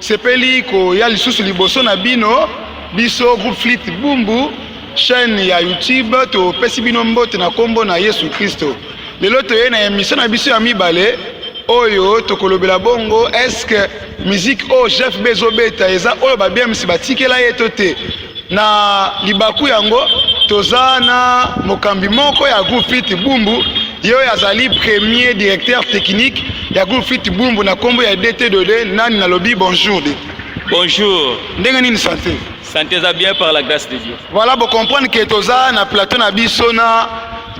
Sepeli koya lisusu liboso na bino biso groupe Flite Bumbu chaîne ya YouTube topesi bino mbote na kombo na Yesu Kristo. Lelo toye na emission na biso ya mibale oyo tokolobela bongo est-ce que musique oyo Jeff Bezo beta eza oyo ba BMC batikela ye to te. Na libaku yango, toza na mokambi moko ya groupe Fit Bumbu, ye oyo azali premier directeur technique ya groupe Fit Bumbu na kombo ya DT Dode. Nani nalobi? Bonjour DT. Bonjour. Ndenge nini santé? Santé eza bien par la grâce de Dieu. Voilà, bo comprendre que toza na plateau na biso na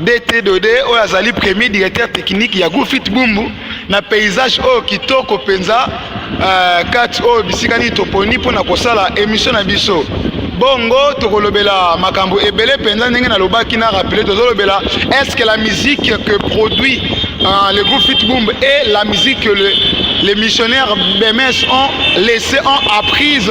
DT Dode oyo azali premier directeur technique ya Gufit Bumbu na paysage oyo kitoko mpenza uh, kati oyo bisika nini toponi mpo na kosala emission na biso bongo tokolobela makambo ebele mpenza ndenge nalobaki na rappele tozolobela est ce que la musique que produit uh, le groupe Fitboom et la musique que le, les missionnaires BMS ont laissé ont apprise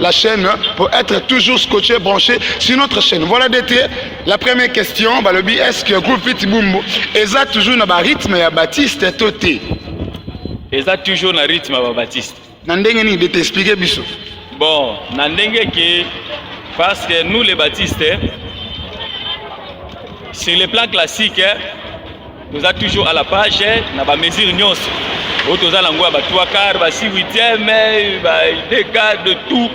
la chaîne pour être toujours scotché, branché sur notre chaîne. Voilà d'été. La première question, bah, le but est-ce que groupe Fit Bumbo eza toujours na ba rythme ya Baptiste toté. Eza toujours na rythme ya Baptiste. Na ndenge nini de t'expliquer biso. Bon, na ndenge que parce que nous les Baptistes sur le plan classique toza toujours à la page eh, na ba mesure nyonso oyo toza nango ya ba 3 quart ba 6 huitième eh, ba 2 quart de tout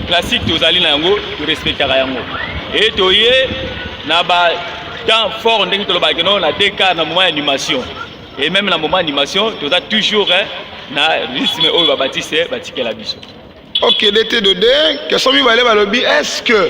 classique tozali na yango torespectaka yango e toye na ba temps fort ndenge tolobaki no na 2 quart na moment ya animation et même na moment animation toza toujours eh, na rythme oyo babatiste batikela biso ok dete de de question mibale balobi est ce que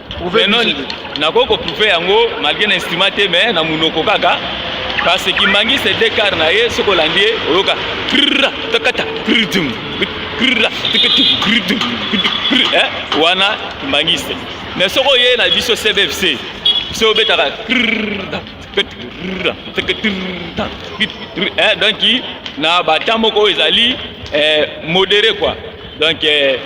nakoki koprouve yango malgre na instrument te mais na monoko kaka parce que kimbangi se dekar na ye soki olandi ye oyoka takata wana kimbangiste mais soki oye na biso cbfc se obetaka donc na bata moko ezali eh, modere quoi donc eh,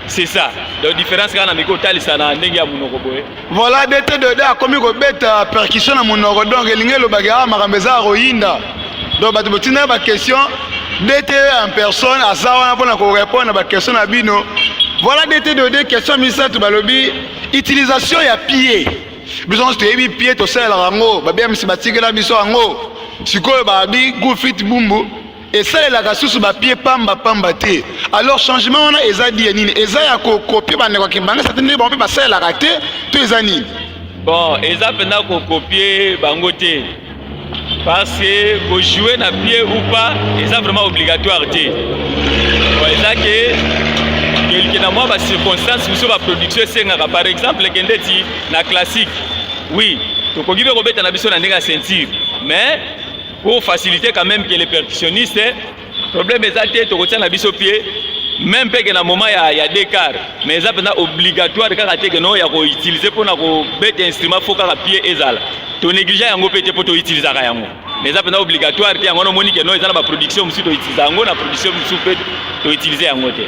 C'est ça. Donc différence quand on miko talisa na ndenge ya munoko boye. Voilà DT de da komi ko beta percussion na munoko donc elingi lo baga ah, makambo eza royinda. Donc bato botina ba question DT en personne aza wana pona ko répondre ba question na bino. Voilà DT de da question misatu balobi utilisation ya pied. Biso nyonso toyebi pied tosalelaka yango babiyamisi batikela biso yango sikoyo babi gufit bumbu esalelaka susu ba pied pamba pamba te alors changement wana eza die nini eza ya kokopie bandeko ya kimbangisa te nde bango mpe basalelaka te to eza nini bon eza mpenza kokopie bango te parce que kojoue na pied ou pas eza vraiment obligatoire te bon eza ke kelke na mwa bacirconstance mosusu baproduction esengaka par exemple kende ti na classique oui tokoki mpe kobeta na biso na ndenge ya ceinture mais pour faciliter quand même que les percussionnistes problème eza te tokotia na biso pied même mpe ke na moment ya, ya decart mais eza mpenza obligatoire kaka te ke no ya koutilize mpo na kobeta instrument fo kaka pied ezala tonéglige yango mpe te mpo toutilisaka yango mais eza mpenza obligatoire te yango wana omoni ke no eza na baproduction mosusu toutiliza yango na production mosusu mpe toutilize yango te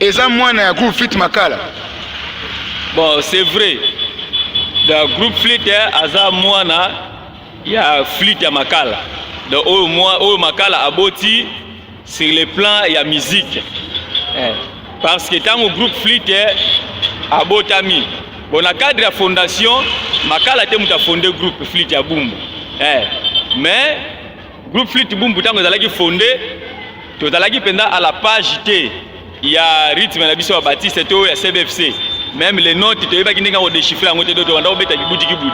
Eza mwana ya groupe fit makala. Bon, c'est vrai. Da groupe flit eh, aza mwana ya flit ya makala. Da oyo mwa oyo makala aboti sur le plan ya musique. Eh. Parce que tango groupe flit eh, abotami. Bon, na cadre ya fondation, makala te muta fonde groupe flit ya Bumbu. Eh. Mais Groupe Flite Bumbu tango ezalaki fonde tozalaki mpenza à la page te ya rythme na biso ya Baptiste to ya CBFC même les notes toyebaki ndenge ko déchiffrer yango te do tobanda kobeta kibudi kibudi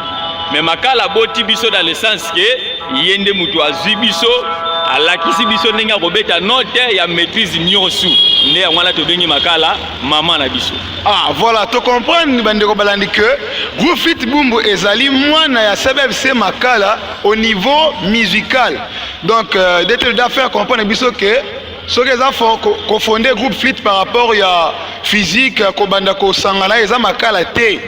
mais makala boti biso dans le sens que ye nde moto azwi biso alakisi biso ndenge akobeta note ya maîtrise nyonso nde yango wana tobengi makala mama na biso ah voilà tocomprendre bandeko balandi que groupe fit bumbu ezali mwana ya cbfc makala au niveau musical donc euh, dete da faire comprendre biso ke soki eza kofonde ko groupe flite par rapport ya physique kobanda kosangana eza makala te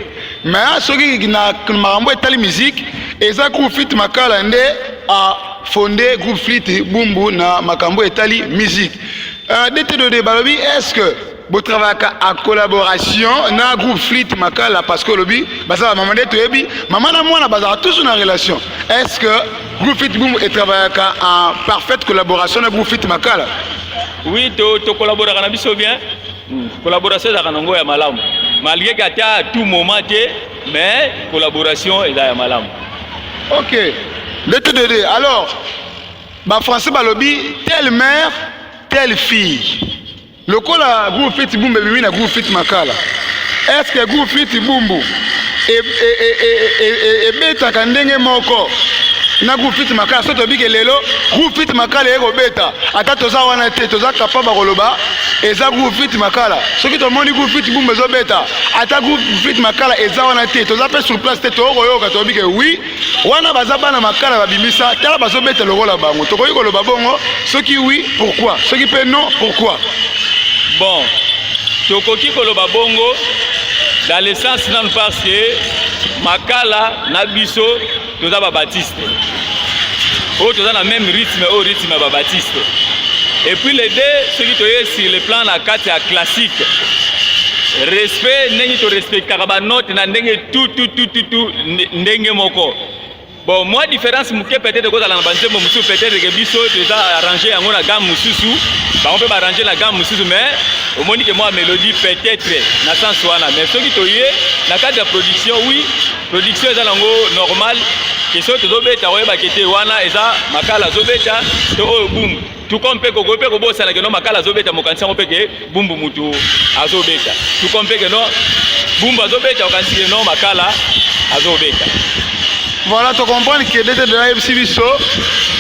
mais soki na makambo etali musique eza groupe flite makala nde a fonde groupe flite bumbu na makambo etali musique euh, dete de balobi est ce que bo travaillaka en collaboration na groupe flite makala parce que olobi baza ba mama nde toyebi mama na mwana bazala toujours na relation est ce que groupe flite bumbu etravaillaka en parfaite collaboration na groupe flite makala oui to to collaboraka na biso bien hmm. collaboration ezalaka nango ya malamu malgré que ata à tout moment te mais collaboration eza ya malamu ok ndete dede alors bafrançais balobi telle mère telle fille Lokola groupe Fit Bumbu ebimi na groupe Fit Makala, est-ce que groupe Fit Bumbu ebetaka ndenge moko na groupe Fit Makala? Soki toyebi ke lelo groupe Fit Makala eye kobeta, ata toza wana te, toza kapaba koloba eza groupe Fit Makala. Soki tomoni groupe Fit Bumbu ezobeta, ata groupe Fit Makala eza wana te, toza mpe sur place te, tokoyoka toyebi ke oui wana baza bana makala babimisa tala bazobeta lokola bango tokoki koloba bongo soki oui pourquoi soki mpe non pourquoi bon tokoki koloba bongo dans le sens nanu parce que makala na biso toza babatiste oyo toza na même rythme oyo rythme ya babatiste et puis les deux soki toye sur le plan na kati ya classique respect ndenge torespectaka banote na ndenge tout tout tout tout tout ndenge moko bon moi différence moke peut-être kozala na banzembo mosusu peut-être ke biso toza arrange yango na gamme mosusu bango mpe baarrange na gamme mosusu mais omoni ke mwa mélodie peut-être na sens wana mais soki toye na cadre ya production oui production eza nango normal ke soki tozobeta oyebake te wana eza makala azobeta to oyo bumu tuko mpe kokoki mpe kobosana keno makala azobeta mokanisi yango mpe ke bumbu mutu azobeta tuko mpe keno bumbu azobeta okanisi keno makala azobeta voilà to comprendre que dete de ayebisi biso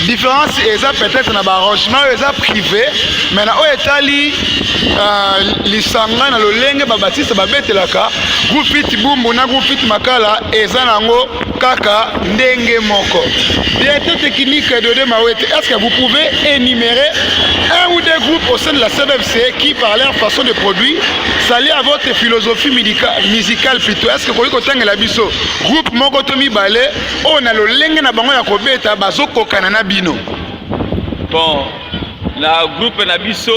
différence eza peut-être na baarrangement oyo eza privé mais na oyo etali euh, lisanga na lolenge babatiste babetelaka groupe it bumbu na groupe it makala eza na yango kaka ndenge moko directeur technique Dode Mawete est-ce que vous pouvez énumérer un ou deux groupes au sein de la CNFC qui par leur façon de produire s'allie à votre philosophie musicale plutôt est-ce que koki kotangela biso groupe moko to mibale oyo na lolenge na bango ya kobeta bazokokana na bino bon na groupe na biso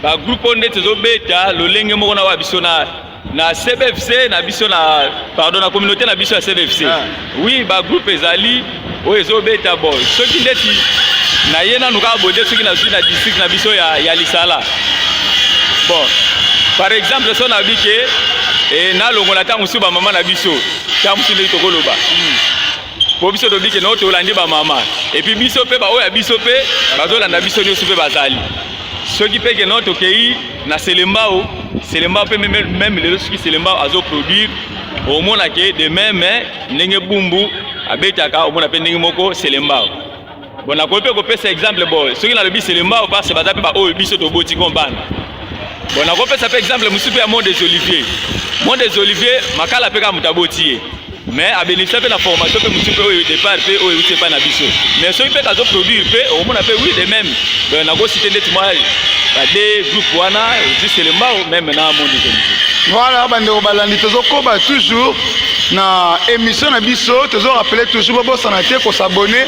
bagroupe oyo nde tozobeta lolenge moko na wa biso na na cbfc na biso na pardon na communauté na biso ya cbfc ah. oui ba groupe ezali oyo ezobeta bo soki ndeti na ye nanu kaka bode soki nazwi na district na biso ya, ya lisala bon par exemple so nabi ke e, nalongola ntango mosusu bamama na biso ntango mosusu ndeti tokoloba mm. po biso tobi ke nao tolandi bamama epuis biso mpe baoyo ya biso mpe bazolanda biso nyonso mpe bazali soki mpe ke nao tokei na selembao selembao mpe meme lelo soki selembao azoproduire omona ke de meme ndenge bumbu abetaka omona mpe ndenge moko selembao Bon, nakoki mpe kopesa exemple boye soki nalobi selembao parce baza mpe baoyo biso toboti ko bana bon nakopesa mpe exemple mosusu mpe ya monde des olivier monde des olivier makala mpe kaka moto aboti ye mais abénéficia mpe na formation mpe mosusu mpe oyo départ mpe oyo euti epai na biso mais soki mpe kazo produire mpe okomona mpe oui de même donc nakosite ndeti mwa bade groupe wana juste lembao meme na monde des olivier voilà bandeko balandi tozokoba toujours na émission na biso tozo rappeler toujours bobosana te kosabone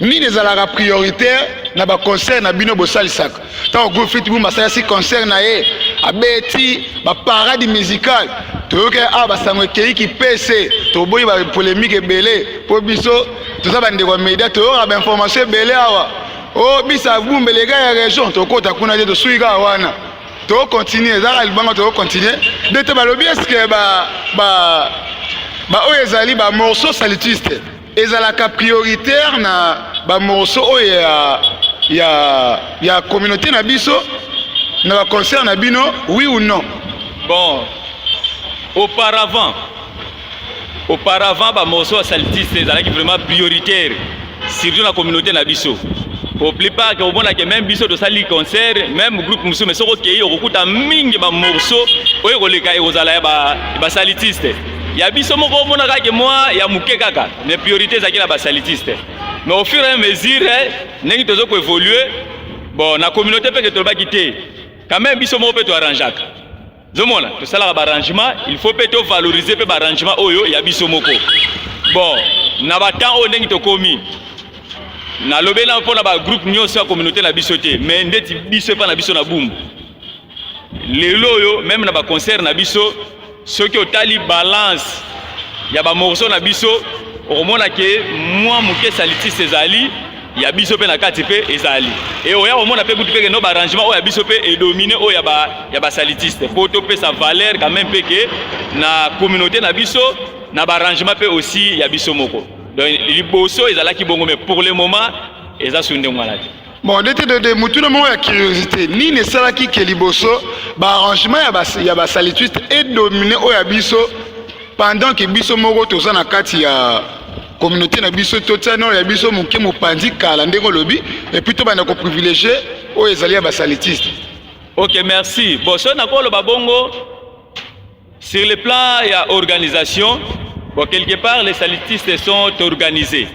Nini ezalaka prioritaire na ba concert na bino bosalisaka ntango groupe fit bumba asalasi concert na ye abeti ba parade musicale toyoki awa basango ekei kipese toboyi ba polémique ebele mpo biso toza bandeko ya media toyoka ba information ebele awa o oh, bisa bumba eleka ya région tokota kuna te tosuki kaka wana tokocontinue ezaka libanga tokocontinue nde te balobi eske ba, ba, ba oyo ezali ba morceau salitiste ezalaka prioritaire na ba morceaux oyo ya ya ya communauté na biso na ba concert na bino oui ou non bon auparavant auparavant ba morceaux ya saltiste ezalaki vraiment prioritaire surtout na communauté na biso au plus part que omona que même biso tosali concert même groupe mosusu mais soki okei okokuta mingi ba morceaux oyo ekoleka ekozala ya basalitiste ya biso moko omona kaka ke mwa ya moke kaka mais priorité ezalaki na basalitiste mais au fur et à mesure eh, ndenge tozo ko évoluer bon na communauté mpe ke tolobaki te quand même biso moko mpe toarrangeaka zomona tosalaka baarrangement il faut mpe tovaloriser mpe baarrangement oyo ya biso moko bon na batemps oyo ndenge tokomi nalobela mpo na bagroupe nyonso ya communauté na biso te mais ndeti biso epai na biso na bumbu lelo oyo meme na baconcert na biso soki otali balance ya ba morceaux na biso okomona ke mwa moke salitiste ezali ya biso mpe na kati mpe ezali e oya komona mpe kutu mpe keno baarrangement oyo ya biso mpe edomine oyo ya ba ya basalitiste mpo topesa valeur quand même mpe ke na communauté na biso na baarrangement mpe aussi ya biso moko donc liboso ezalaki bongo mais pour le moment eza sunde mwana te Bon, dete de, de motuna moko ya curiosité nini esalaki ke liboso baarrangement ya, bas, ya basalituiste edomine oyo ya biso pendant ke biso moko toza na kati ya communauté na biso totia nao ya biso moke mopanzi kala ndenge olobi epuis tobanda koprivilégie oyo ezali ya basalituiste ok merci bon soki nakoloba bongo Sur le plan ya organisation, bon quelque part les salitistes sont organisés.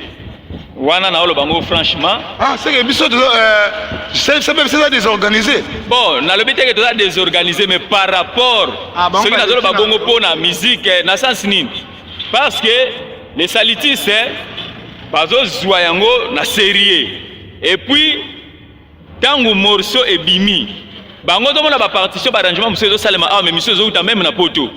Wana na oloba ngo franchement. Ah, c'est que biso tozo euh c'est c'est même ça désorganisé. Bon, na lobi te que toza désorganisé mais par rapport ah, bon, ce que na oloba bongo pona musique eh, na sens nini? Parce que les salitistes eh, bazo zwa yango na sérieux. Et puis Tango morceau ebimi, bango tomona ba partition ba arrangement mosusu ezosalema awa, mais misu ezowuta meme na poto,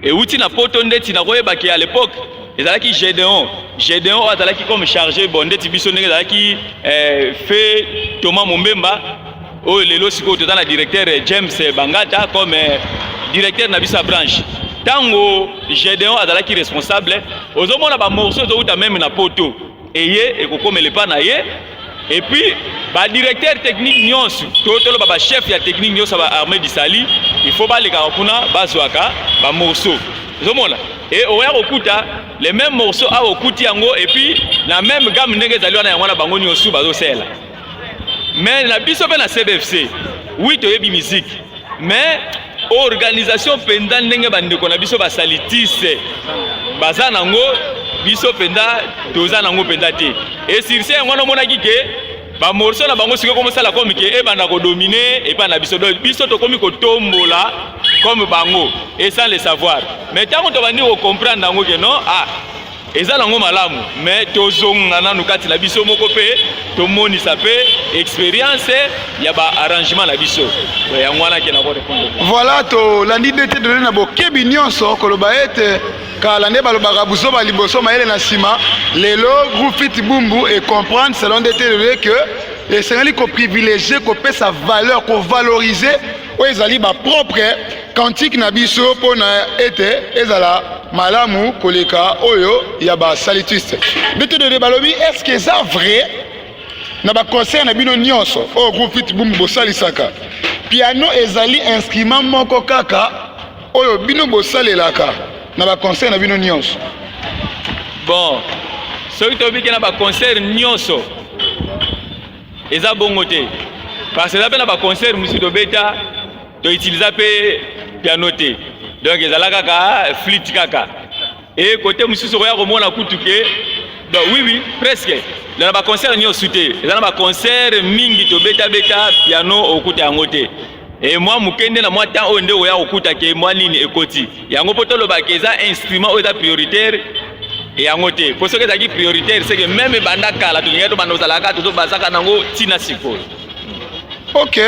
ewuti na poto ndeti na koyeba ke à l'époque ezalaki Gedeon Gedeon oyo azalaki comme chargé bon ndeti biso ndenge ezalaki eh, fe Thomas Mombemba oyo lelo sikoyo toza na directeur eh, James Bangata comme eh, directeur na biso ya branche ntango Gedeon azalaki responsable ozomona ba morceaux ezowuta meme na poto eye ekokomela epa na ye epuis badirecteur technique nyonso to toloba bachef ya technique nyonso ya baarmée du sali il faut balekaka kuna bazwaka bamorceau ozomona e oya kokuta le même morceau awa okuti yango epuis na même game ndenge ezali wana yango wana bango nyonso bazosela mais na biso mpe na cbfc wi toyebi miziki mais organisation mpenza ndenge bandeko na biso basalitise baza nango biso mpenza toza nango mpenza te esirse yango wana omonaki ke bamorso na bango sikoki komosala komi ke ebanda kodomine epai na biso donc biso tokomi kotombola comme bango et sans le savoir mais ntango tobandi kocomprendre yango ke non ah eza nango malamu me tozonga nanu kati na biso moko mpe tomonisa mpe experience ya baarrangement na biso yango wana ke nako repondre voilà tolandi nde te tolandi na bokebi nyonso koloba ete kala nde balobaka buzoba liboso mayele na nsima lelo groupe fiti bumbu e comprendre selon nde te lelo ke esengeli koprivilegie kopesa valeur kovalorize oyo ezali bapropre kantike na biso mpo na ete ezala malamu koleka oyo ya basalutiste bitodede balobi eske eza vrai na baconcert na bino nyonso oyo groupe fitbum bosalisaka piano ezali instrument moko kaka oyo bino bosalelaka na baconcert na bino nyonso bon soki tobiki na baconcert nyonso eza bongo te parce eza mpe na baconcert mosusu tobeta To utiliser pe piano te. Donc ezala kaka flûte kaka. Et côté mususu okoya komona kutu ke donc oui oui presque na ba concert niosu te. Ezala ba concert mingi to beta beta piano okuta yango te. Et moi mukende na moi temps oyo nde oya okuta ke moi nini ekoti. Yango poto loba ke eza instrument oyo eza prioritaire yango te mpo soki ezalaki prioritaire seke meme ebanda kala tolingai tobanda ozalaka tozobazaka nango ntina sikoyo ok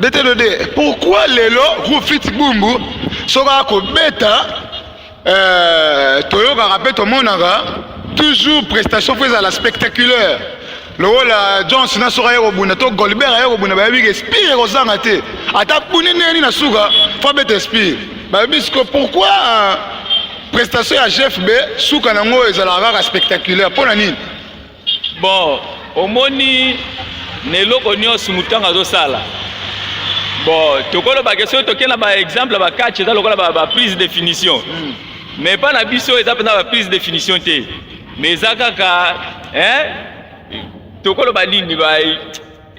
detelode pourquoi lelo rufit bumbu soki akobeta euh, toyokaka mpe tomonaka toujours prestation fo ezala spectaculaire lokola john sina soki aye kobunda to golbert aye kobunda bayebi ke espire ekozanga te ata buni ndenge nini na suka fo abeta espire bayebi siko pourquoi euh, prestation ya gfb suka na yango ezalaka kaka spectaculaire mpo na nini Bon, omoni na eloko nyonso moto ntango azosala bon tokolobake soki toke na baexemple ya bacatch eza lokola baprise de finition hmm. mais epai na biso eza mpenza baprise de finition te mais eza kaka tokoloba nini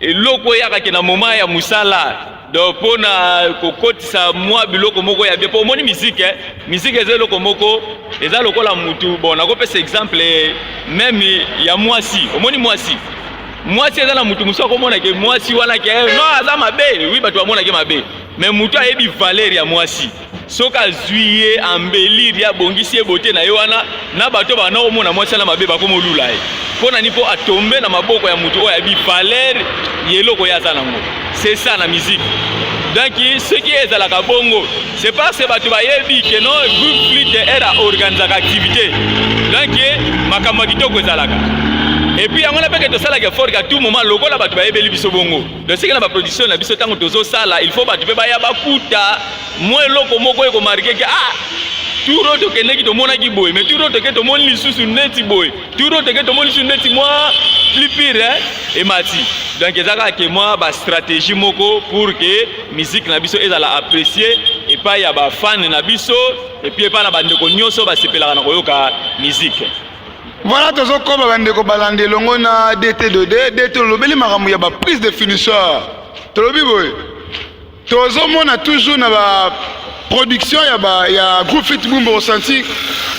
eloko eyaka ke na moment ya musala donc mpo na kokotisa mwa biloko moko ya bien mpo omoni miziki eh? miziki eza eloko moko eza lokola mutu bon nakopesa exemple eh, meme ya mwasi omoni mwasi mwasi eza na mutu mosusu akomona ke mwasi wana ke eh, no aza mabe wi bato bamonake mabe me mutu ayebi valeur ya mwasi soki azwi ye ambelire ye abongisi ye bote na ye wana na bato bana komona mwasi wana mabe bakomolula ye mpo na nini mpo atombe na maboko ya moto oyo ayebi valere ya eloko ye aza nango c'est ça na musique donc soki ezalaka bongo c'est parce que bato bayebi ke non groupe flite era organisaka activité donc makambo ya kitoko ezalaka epuis yango na mpeke tosalaka efort ka tout moment lokola bato bayebeli biso bongo Tosika na ba production na biso tango tozo sala il faut batu pe baya bakuta mwa eloko moko eko marquer ke ah tour oyo tokendeki tomonaki boye mais tour oyo toke tomoni lisusu neti boye tour oyo toke tomoni lisusu neti mwa plus pire emati donc eza kaka ke mwa bastratégie moko pour ke musique na biso ezala apprécie epai ya bafane na biso epuis epai na bandeko nyonso basepelaka na koyoka musique Voilà tozokoma bandeko balandi elongo na DT de DT olobeli makambo ya ba prise de finisseur tolobi boye tozomona toujours na ba production ya, ba, ya groupe fit bumba osanti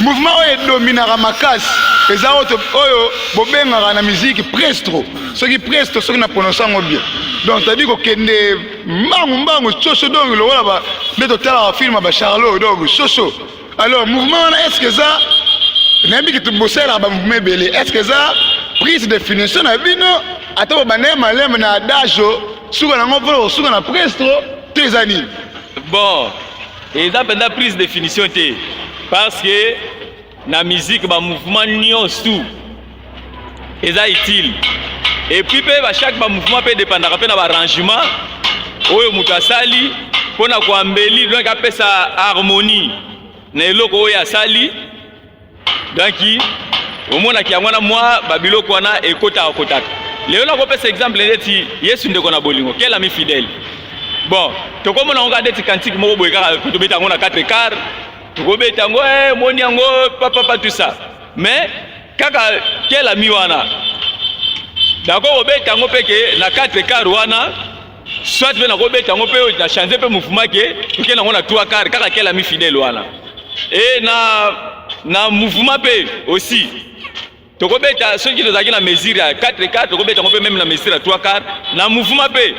mouvement oyo edominaka makasi eza oyo bobengaka na miziki prestro soki presto soki na prononce yango bien donc tadi kokende mbangu mbangu soso dongi lokola nde totalaka filme ya bacharlo dongi soso Alors mouvement wana est-ce que eza nayebi kitu bosalaka ba mouvement ebele est-ce que eza prise de finition na bino ata bobanda ye maleme na adage suka nango mpo osuka na prestro to eza nini bon eza mpenza prise de finition te parce que na musique ba mouvement nyonso eza utile epuis mpe ba chaque ba mouvement mpe edepandaka mpe na ba arrangement oyo moto asali mpo na koambeli donc apesa harmonie na eloko oyo asali donc omonaki yango wana mwa babiloko wana ekotaka kotaka lelo nakopesa exemple neti yesu ndeko na bolingo quel ami fidèle bon tokomona yango kaka neti kantike moko boye kaka tobeta yango na 4 quart tokobeta yango eh, moni yango papapa tout ça mais kaka kelami wana nakoki kobeta yango mpe ke na 4 kar wana soit mpe nakobeta yango mpe na change mpe mouvement ke toke nango na 3 kar kaka kelami fidèle wana e na na mouvement mpe aussi tokobeta soki tozalaki na mesure ya 4 kar tokobeta yango mpe meme na mesure ya 3 kar na mouvement mpe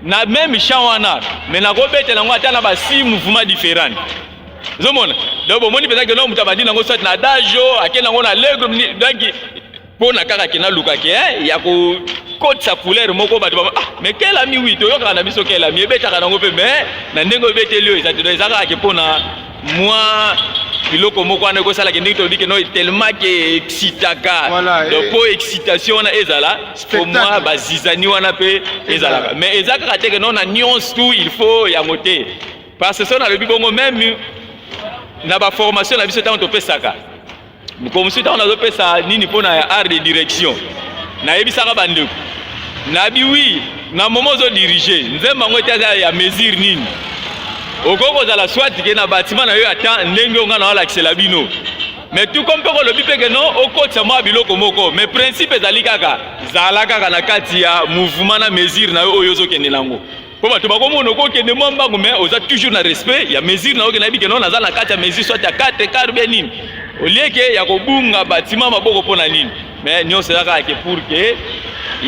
na meme champ wana me nakobeta nango ata na ba 6 mouvement différente ozomona donc bomoni mpenza keloko moto abandi nango soit na adage o ake nango na legre donc mpo na kaka ke nalukaki eh, ya kokotisa couleur moko bato bama ah mais kelami wi toyokaka na biso kelami ebetaka nango mpe mais na ndenge obeteli oyo eza te donc eza kaka ke mpo na mwa biloko moko wana ekosalaka ndenge tolobi keno tellement ke excitaka donc mpo excitation wana ezala mpo mwa bazizani wana mpe ezalaka mais eza kaka te keno na nyonso tout il faut yango te Parce que soki nalobi bongo meme na ba formation na biso ntango topesaka mokolo mosusu ntango nazopesa nini mpo na art de direction nayebisaka bandeko nayebi wi na momo ozo dirige nzembo yango ete aza ya mesure nini okoki kozala swati ke na batima na yo ya temps ndenge oyo ngai naolakisela bino me tuko mpe kolobi mpe keno okotisa mwa biloko moko me principe ezali kaka zala kaka na kati ya mouvement na mesure na yo oyo ozokende nango po bato bakomona okokende mwa mbangu mais oza toujours na respect ya mesure na oke nayebi keno naza na kati ya mesure soit ya 4 kar bia nini olieke ya kobunga batima maboko mpo na nini mais nyonso eza kaka ke pour ke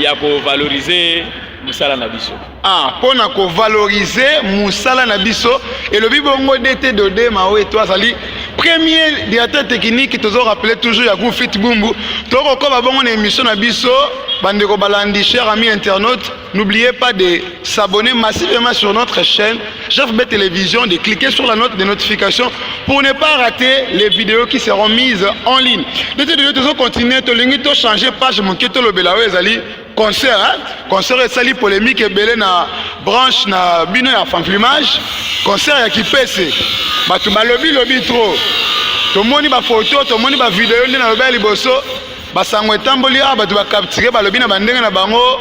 ya kovalorize mosala na biso ah, mpo na kovalorize mosala na biso elobi bongo dete dode mao eto azali premier directeur technique tozo rappeler toujours ya gufit bumbu tokokoba bongo na émission na biso bandeko balandi cher ami internaute N'oubliez pas de s'abonner massivement sur notre chaîne JFB Télévision, de cliquer sur la note de notification pour ne pas rater les vidéos qui seront mises en ligne. Nous allons continuer, nous allons changer page, nous allons faire concert. Hein? Concert est sali polémique et belé na branche na bino ya fanflimage. Concert ya kipese. Batu balobi lobi trop. Tomoni ba photo, tomoni ba vidéo nde na lobi liboso. basango etamboli awa bato bakaptike balobi na bandenge na bango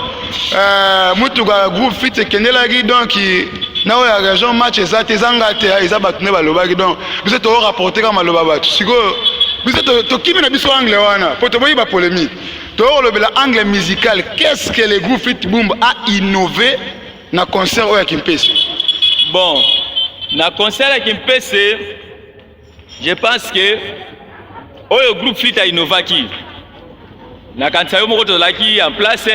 euh, motuka groupe fit ekendelaki donc na oyo ya région match eza te eza nga te eza bato nde balobaki donc biso toko rapporte kaka maloba bato sikoyo biso tokimi na biso angle wana mpo toboyi bapolémique tokolobela angle musical qu'est ce que le groupe fit boom a innové na concert oyo ya kimpese bon na concert ya kimpese Je pense que oyo groupe fit ainovaki nakanisa yo moko tozalaki en place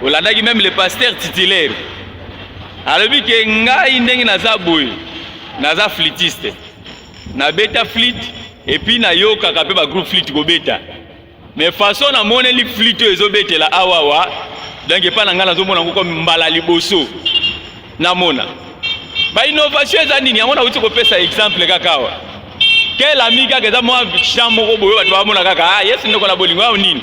olandaki meme le pasteur titulaire alobi ke ngai ndenge naza boye naza flitiste nabeta flite epuis nayokaka mpe bagroupe flite kobeta mais façon na moneli flite oyo ezobetela awawa donc epai na ngai nazomona ngoko mbala liboso namona bainnovation eza nini yango nauti kopesa exemple kaka awa kel ami kaka eza mwa champ moko boye bato bamona kaka ah, yesu ndeko na bolingo yao nini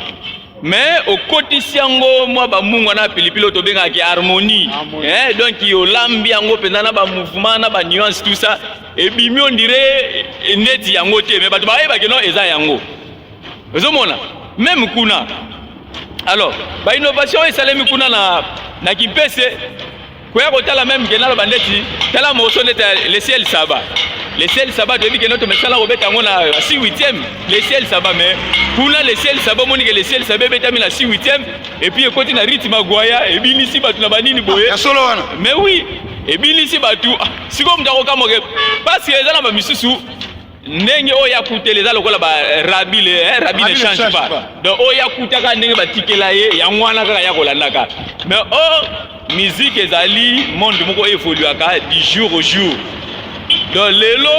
mais okotisi yango mwa bamungwa na pilipili oyo tobengaki harmonie eh, donc olambi yango mpenza na bamouvement na banuance tout ça ebimi ondire neti yango te mais bato bayebaki no eza yango ozomona meme kuna alors bainnovation oyo esalemi kuna na, na kimpese koya kotala meme ke naloba ndeti tala moso ndeti ya lesiel saba lesiel saba toyebi ke noto mesala kobeta yango na si huitième lesiel saba mais kuna lesiel saba omoni ke lesiel saba ebetami na si huitième epuis ekoti na rythme agwaya ebinisi bato na banini boye ya solo wana mais oui ebinisi bato ah, sikoyo moto akokamoke parce que eza na bamisusu ndenge oyo ya kutela eza lokola ba rabi le eh, rabi ne change pas donc oyo ya kutaka ndenge batikela ye yango wana kaka ya kolandaka mais o oh, musique ezali monde moko evoluaka du jour au jour donc lelo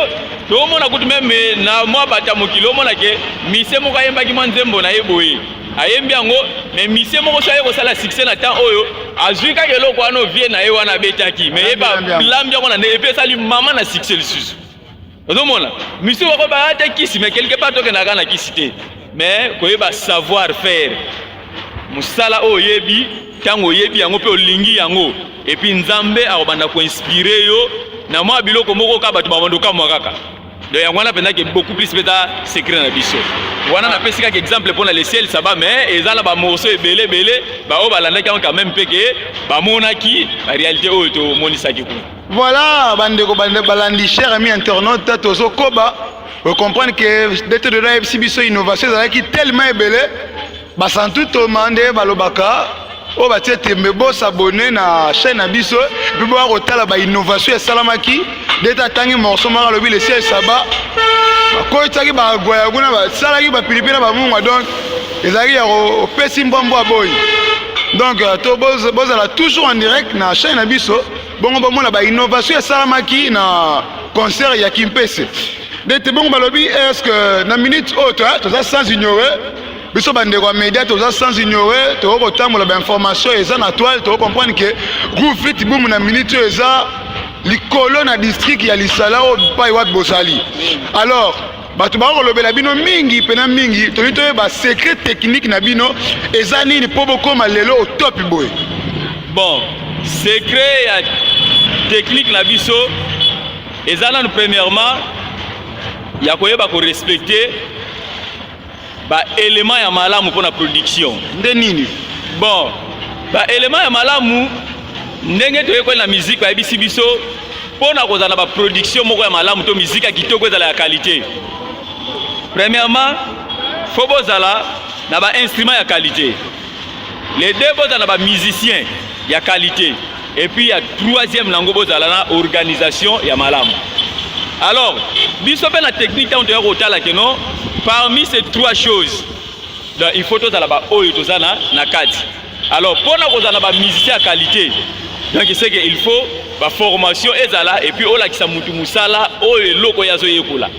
tokomona kutu meme na mwa bato ya mokili omona ke mise moko ayembaki mwa nzembo na ye boye ayembi yango me mise moko so aye kosala succès na temps oyo azwi kaka eloko wana ovie na ye wana abetaki me ye balambi yango na nde epe esali mama na succès lisusu ozomona misusu bako baya te kisi mais quelque part tokendaka na kisi te mais koyeba savoir faire mosala oyo oyebi ntango oyebi yango mpe olingi yango epuis nzambe akobanda koinspire yo na mwa biloko moko kaka bato babanda okamwa kaka donc yango wana mpenza ke beaucoup plus mpe eza secret na biso wana napesi kaka exemple mpo na le ciel saba mais eza na bamorceau ebele ebele baoyo balandaki yango quand même mpe ke bamonaki barealité oyo tomonisaki kuna Voilà, bandeko balandi cher ami internaute tozo koba o comprendre que dete de la FC biso innovation ezalaki tellement ebele basantu toma nde balobaka oyo oh, batie tembe bosabone na chaîne na biso mpe boya kotala bainnovation esalamaki dete atangi morceau moko alobi lesi esaba bakotisaki bagwaya kuna basalaki bapilipi na bamungwa donc ezalaki ya kopesi mbwambwa boyi donc euh, bozala toujours en direct na chaîne na biso bongo bomona ba innovation esalamaki na concert ya kimpese ndete bongo balobi est ce que na minute oyo toza sans ignore biso bandeko ya media toza sans ignore tokoki kotambola bainformation eza na toile tokoki comprendre ke groupe fit boum na minute oyo eza likolo na district ya lisala oyo pai wapi bozali alors bato bakoki kolobela bino mingi mpena mingi tolingi toyeba secret technique na bino eza nini mpo bokóma lelo otopi boye bon secret ya technique na biso eza nanu premièrement ya koyeba korespecte Ba elements ya malamu pona production nde nini? Bon, ba elements ya malamu ndenge toyekoli na musique bayebisi biso pona kozala na ba production moko ya malamu to musique ya kitoko ezala ya qualité. Premièrement, faut bozala na ba instruments ya qualité. Les deux boza na ba musiciens ya qualité et puis ya troisième nango bozala na organisation ya malamu. Alors, biso pe na technique tango toya kotala que non parmi ces trois choses donc il faut tozala ba oyo toza na na kati. Alors, pona kozala na ba musiciens ya qualité donc c'est que il faut ba formation ezala et puis olakisa mutu musala oyo eloko yazo yekola.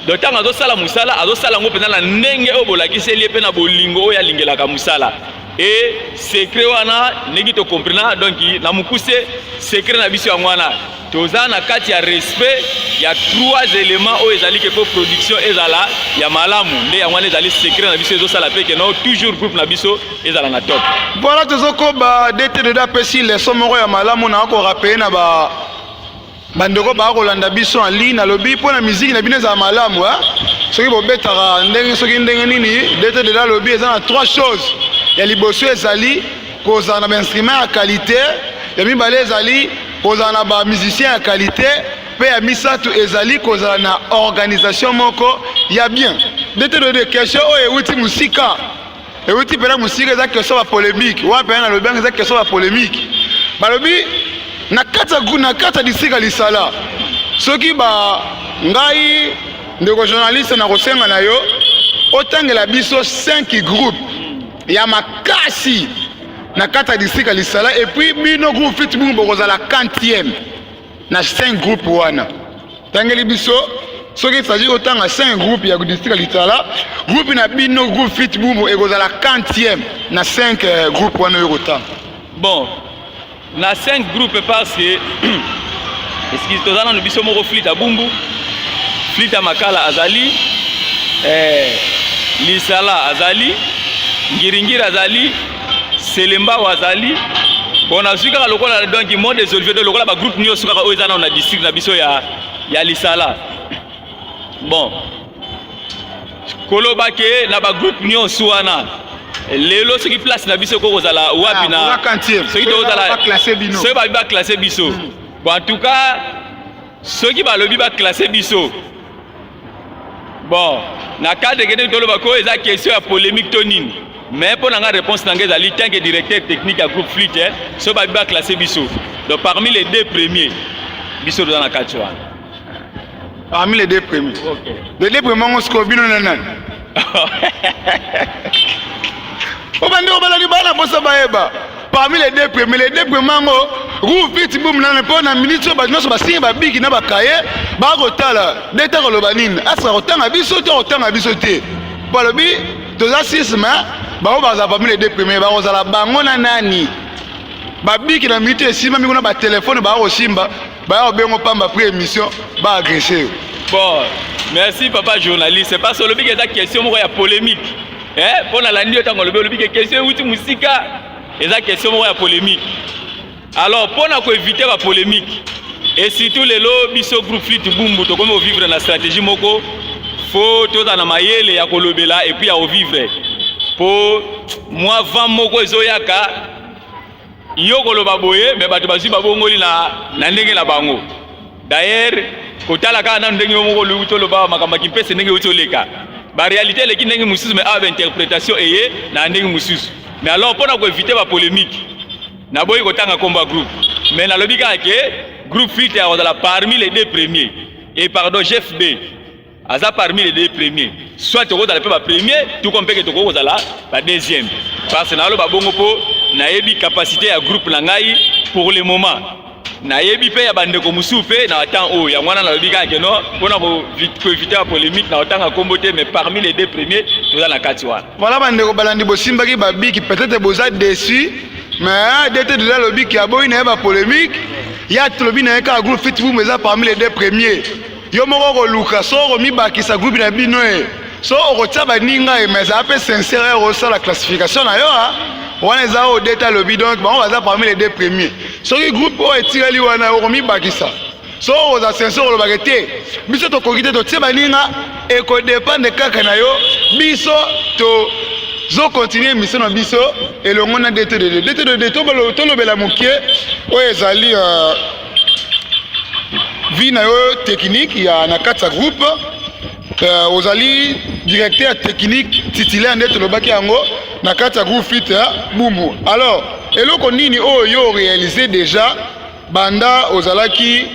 donc ntango azosala mosala azosala yango mpenza na ndenge oyo bolakiseli ye mpe na bolingo oyo alingelaka mosala e sekre wana ndenge tokomprena donc na mokuse sekre na biso yango wana toza na kati ya respect ya trois éléments oyo ezali ke mpo production ezala ya malamu nde yango wana ezali secret na biso ezosala mpe keno toujours groupe na biso ezala na top voilà tozokoba dtdd apesi leson moko ya malamu na akorapeye na ba Bandeko baya kolanda biso en ligne, nalobi mpo na miziki na bino ezala malamu eh? soki bobetaka ndenge soki ndenge nini, dete dela alobi eza na trois choses ya liboso ezali kozala na bainstrument ya qualité, ya mibale ezali kozala na bamusicien ya qualité, mpe ya misato ezali kozala na organisation moko ya bien. Dete de question oyo euti mosika. euti mpela mosika eza keso ba polemique wana mpela nalobi yango eza keso ba polemique balobi na kati ya district ya lisala soki ba ngai ndeko journaliste nakosenga na yo otangela biso 5 groupe ya makasi na kati ya district ya lisala epuis bino groupe fit bino bokozala 4e na cinq groupe wana tangeli biso soki esaji kotanga cinq groupe ya district ya litala groupe na bino groupe fit bumbu ekozala quantième na cinq euh, groupe wana oyo kotanga bon na cinq groupe parce que eskize toza nano biso moko flite ya bumbu flite ya makala azali eh, lisala azali ngiringiri azali Selembao azali bon nazwi kaka lokola donc mot des olivier donc lokola bagroupe nyonso kaka oyo eza nao na district na biso ya, ya lisala bon koloba ke na bagroupe nyonso wana lelo soki place na biso ekoki kozala wapi ah, na soki tokozala soki babi baklasse biso hmm. bon en tout cas soki balobi baklasse biso Bon, na cadre ekendeki toloba ko eza question ya polemique to nini mais mpo na nga réponse na nga ezali tant que directeur technique ya groupe flite eh, so babi baclasse biso donc parmi les deux premiers biso toza na kati wana parmi les deux premiers okay. les deux premiers yango sikoyo bino na nani obandi obala libala mposa bayeba parmi les deux premiers les deux premiers yango rouf piti boum nana mpo na miniti oyo bato nyonso basingi babiki na bakaye bakotala nde te koloba nini asika kotanga biso to kotanga biso te mpo alobi toza sisme bango bazala parmi les deux premiers bakozala bango na nani babiki na miniti esimbami kuna batelefone bakosimba Baya obengo pamba prix émission ba agresser yo. Bon, merci papa journaliste. C'est pas solo bike eza question moko ya polémique. Eh, mpo na landi yo ntango olobi olobi ke question euti mosika eza question moko ya polémique. Alors mpo na koevite ba polémique et surtout lelo biso groupe flit bumbu tokomi kovivre na stratégie moko fo tozala na mayele ya kolobela epuis ya kovivre mpo mwa vent moko ezoyaka Yo koloba boye me bato bazwi babongoli na, na ndenge na bango dayere kotala kaka nano ndenge yo moko oluki toloba makambo ya kimpese ndenge euti oleka barealité eleki ndenge mosusu me awa bainterpretation eye na ndenge mosusu me alors mpo na koevite bapolemike naboyi kotanga nkombo ya groupe me nalobi kaka ke groupe filtre akozala parmi les deux premiers e pardon gfb aza parmi les deux premiers soit tokozala mpe bapremier tuko mpeke tokoki kozala badeuxième parce naloba bongo mpo nayebi capacité ya groupe na ngai pour le moment nayebi mpe ya bandeko mosusu mpe na temps oyo yango wana nalobi kaka keno mpona koevite ya polémique na otanga nkombo te mais parmi les deux premiers toza na kati wana voilà bandeko balandi bosimbaki babiki peut-être boza déçu mais dete deja alobi ke aboyi na ye bapolémique ya tolobi na ye kaka groupe fit boum eza parmi les deux premiers Yo moko okoluka so okomibakisa groupe na bino e so okotia baninga e mais ezala mpe sincere ya kosala classification na yo a wana eza oyo deta alobi donc bango baza parmi les deux premier soki groupe oyo etikali wana okomibakisa so okozala sincere olobaka te biso tokoki te totie baninga ekodepende kaka na yo biso to zo continue emission na biso elongo na dtdd dtdd tolobela mokie oyo ezali euh, vie na yo technique ya na kati ya groupe euh, ozali directeur technique titulaire nde tolobaki yango na kati ya groupe fit ya bumbu alors eloko nini oyo oh, yo orealise déjà banda ozalaki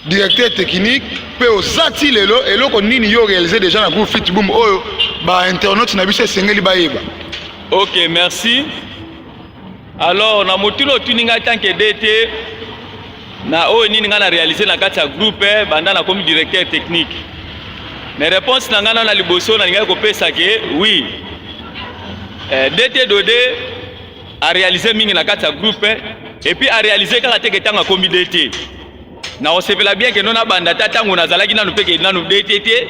directeur technique mpe oza ti lelo eloko nini yo orealise déjà na groupe fit bumbu oyo oh, bainternaute na biso esengeli bayeba ok merci alors na motuna otuni ngai tanke dete na oyo nini ngai na réalise na kati ya groupe eh, banda nakomi directeur technique mais réponse na ngai nao na liboso nalingaki kopesa ke oui eh, dete dode aréalise mingi na kati ya groupe eh, epuis aréalise kaka teke ntango akomi dete nakosepela bien kendo nabanda ata ntango nazalaki nanu mpe kende nanu dete te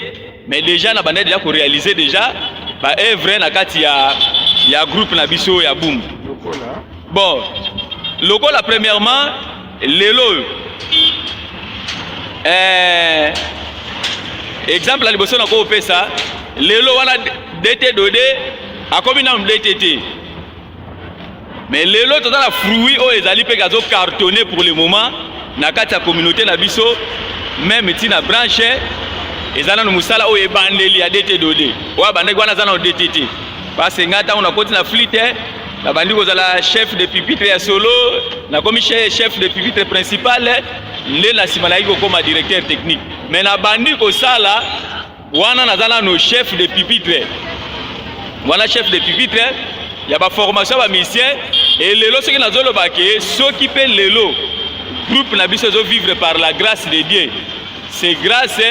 mais déjà nabandaki deja korealize déjà baevre na kati ya, ya groupe na biso ya boum bon lokola premièrement lelo oyo eh, exemple ya liboso nakopesa lelo wana dete dode akomi nanu dete te Mais lelo toza na fruit oyo ezali mpe kazo cartonner pour le moment na kati ya communauté na biso meme ti na branche eza nano mosala oyo ebandeli ya DT Dode oyo abandaki wana aza nano DT te parce ngai ntango nakoti na flite nabandi kozala chef de pupitre ya solo nakomi chef de pupitre principal nde na nsima nayaki kokoma directeur technique mais nabandi kosala wana naza nano chef de pupitre wana chef de pupitre ya baformation ya bamisien e lelo soki nazoloba ke soki mpe lelo groupe na biso ezovivre par la grâce de dieu c'est grâce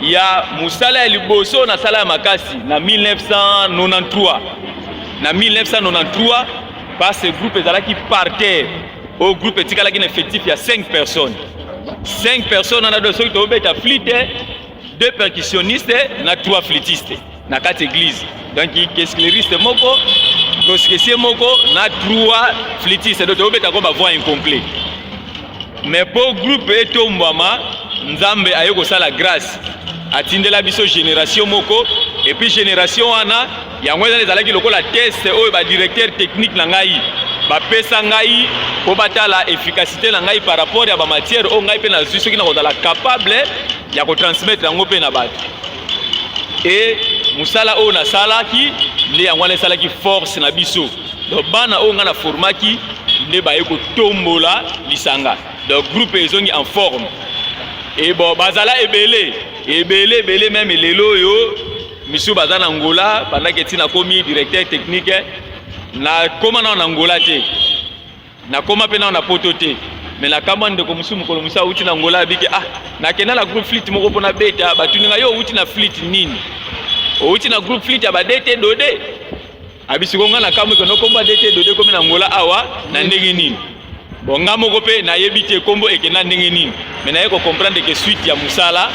ya mosala ya liboso nasala ya makasi na 1993 na 1993 parce groupe ezalaki par terre oyo groupe etikalaki na effectif ya 5 personnes 5 personnes wana do soki tobeta flite deux percussionnistes na trois flûtistes na kati église donc kescleriste moko proskesier moko na trois flûtistes donc tokobeta ko ba voix incomplet mais mpo groupe etombwama nzambe aye kosala grâce atindela biso génération moko epuis génération wana Yango ezali ezalaki lokola test oyo ba directeur technique na ngai bapesa ngai mpo batala efficacité na ngai par rapport ya bamatière oyo ngai mpe nazwi soki nakozala capable ya kotransmettre yango mpe na bato e mosala oyo nasalaki nde yango wana esalaki force na biso donc bana oyo ngai na formaki nde baye kotombola lisanga donc groupe ezongi en forme e bon bazala ebele ebele ebele meme lelo oyo Monsieur baza na Angola bandaki eti nakomi directeur technique nakoma nao na Angola te nakoma mpe nao na poto te me nakamwa ndeko mosusu mokolo mosusu awuti na Angola abiki ah nakenda na groupe flite moko mpo nabeta batuni ngai yo owuti na flite nini owuti na groupe flite ya badete dode abisi ko nga na kamwe kono kombo adete dode komi na ngola awa na ndenge nini bon nga moko mpe nayebi te kombo ekenda ndenge nini me naye kocomprendre ke suite ya mosala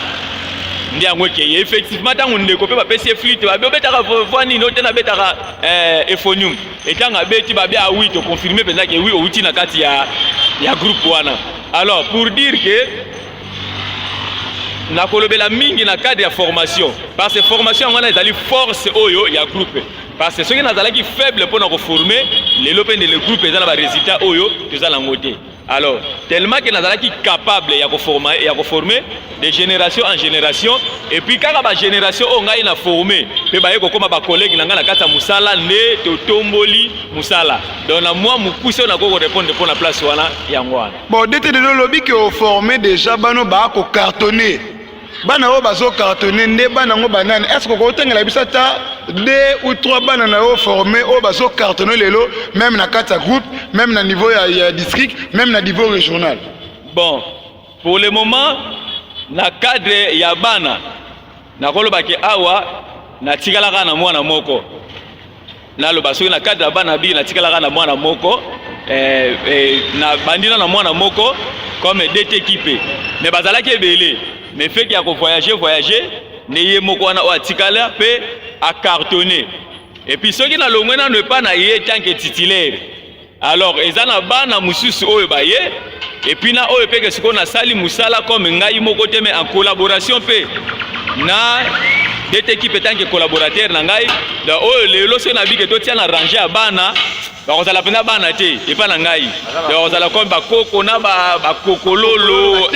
nde yango ekeye effectivement ntango ndeko mpe bapesi ye flite babi obetaka voi nini ote nabetaka eh, ephonium etango abeti babi ah oui toconfirme mpenza ke oui outi na kati ya, ya groupe wana alors pour dire ke nakolobela mingi na cadre ya formation parce que formation yango wana ezali force oyo ya groupe parce que soki nazalaki faible mpo na koforme lelo mpe ndele groupe eza na baresultat oyo toza nango te alors tellement ke nazalaki capable ya koforme ya koforme de génération en génération et puis kaka bagénération oyo ngai na forme mpe baye kokoma bacollègue na ngai na kati ya mosala nde totomboli mosala donc na mwa mokuse oyo nakoki korepondre mpo na place wana yango wana Bon dete de lobi que au former déjà bano ba ko cartonner bana oyo bazo cartonner nde bana ngo banani est-ce que okotengela biso ata deux ou trois bana na yo former oyo bazo cartonner lelo même na kati ya groupe même na niveau ya, ya district même na niveau régional bon pour le moment na cadre ya bana nakolobaki awa natikalaka na mwana moko naloba soki na cadre ya bana biki natikalaka na mwana moko eh, eh, na bandi na mwana moko comme dt ekipe mais bazalaki ebele mais feti ya kovoyage voyage nde ye moko wana oyo atikala mpe acartonne epuis soki nalongwe nano epa na ye tanke titulaire Alors eza na bana mususu oyo baye epuis na oyo peke sikoyo nasali musala comme ngai moko te mais en collaboration pe na dete ekipe etanke collaborateur na ngai da oyo lelo soki nabike totia na range ya bana bakozala mpenza bana te epai na ngai bakozala comme bakoko na bakokololo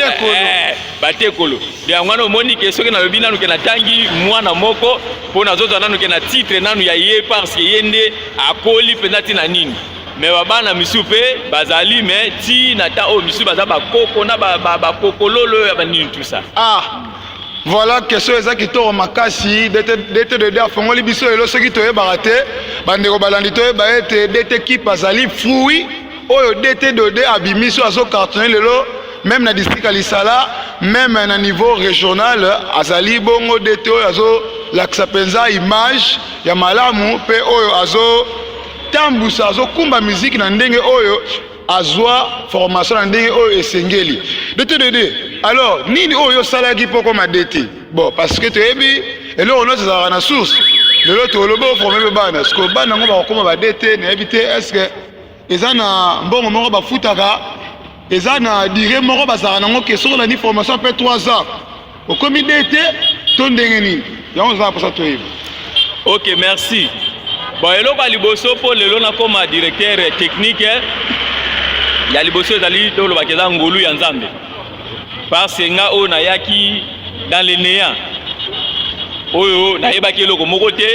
batekolo eh, eh, yango wana omoni ke soki nalobi nanu ke natangi mwana moko mpo nazozwa nanu ke na titre nanu ya ye parce que ye nde akoli mpenza ti na nini me babana misusu mpe bazali me ti na ta oyo misusu baza bakoko na bakokololo oyo ya banini tusa ah voilà question eza kitoko makasi dt dede afongoli biso lelo soki toyebaka te bandeko balandi toyeba ete dt kipe azali fruit oyo dt dede abimisi oyo azocartone lelo meme na district ya lisala meme na niveau regional azali bongo dete oyo azolakisa mpenza image ya malamu mpe oyo azotambusa azokumba miziki na ndenge oyo azwa formation na ndenge oyo esengeli dete dede alors nini oyo osalaki mpo okoma dete bon parce que toyebi eloko nyonso ezalaka na source lelo tolobi oforme mpe bana sikoyo bana yango bakokoma badete nayebi te estce eza na mbongo moko bafutaka eza na dire moko bazalaka nango ke soki olandi formation apres 3 ans okomi de te to ndenge nini yango eza na mposa toyeba ok merci bon eloko ya liboso mpo lelo nakoma directeur technique ya liboso ezali tolobaka eza ngolu ya nzambe parce que nga oyo nayaki dans le néant oyo nayebaki eloko moko te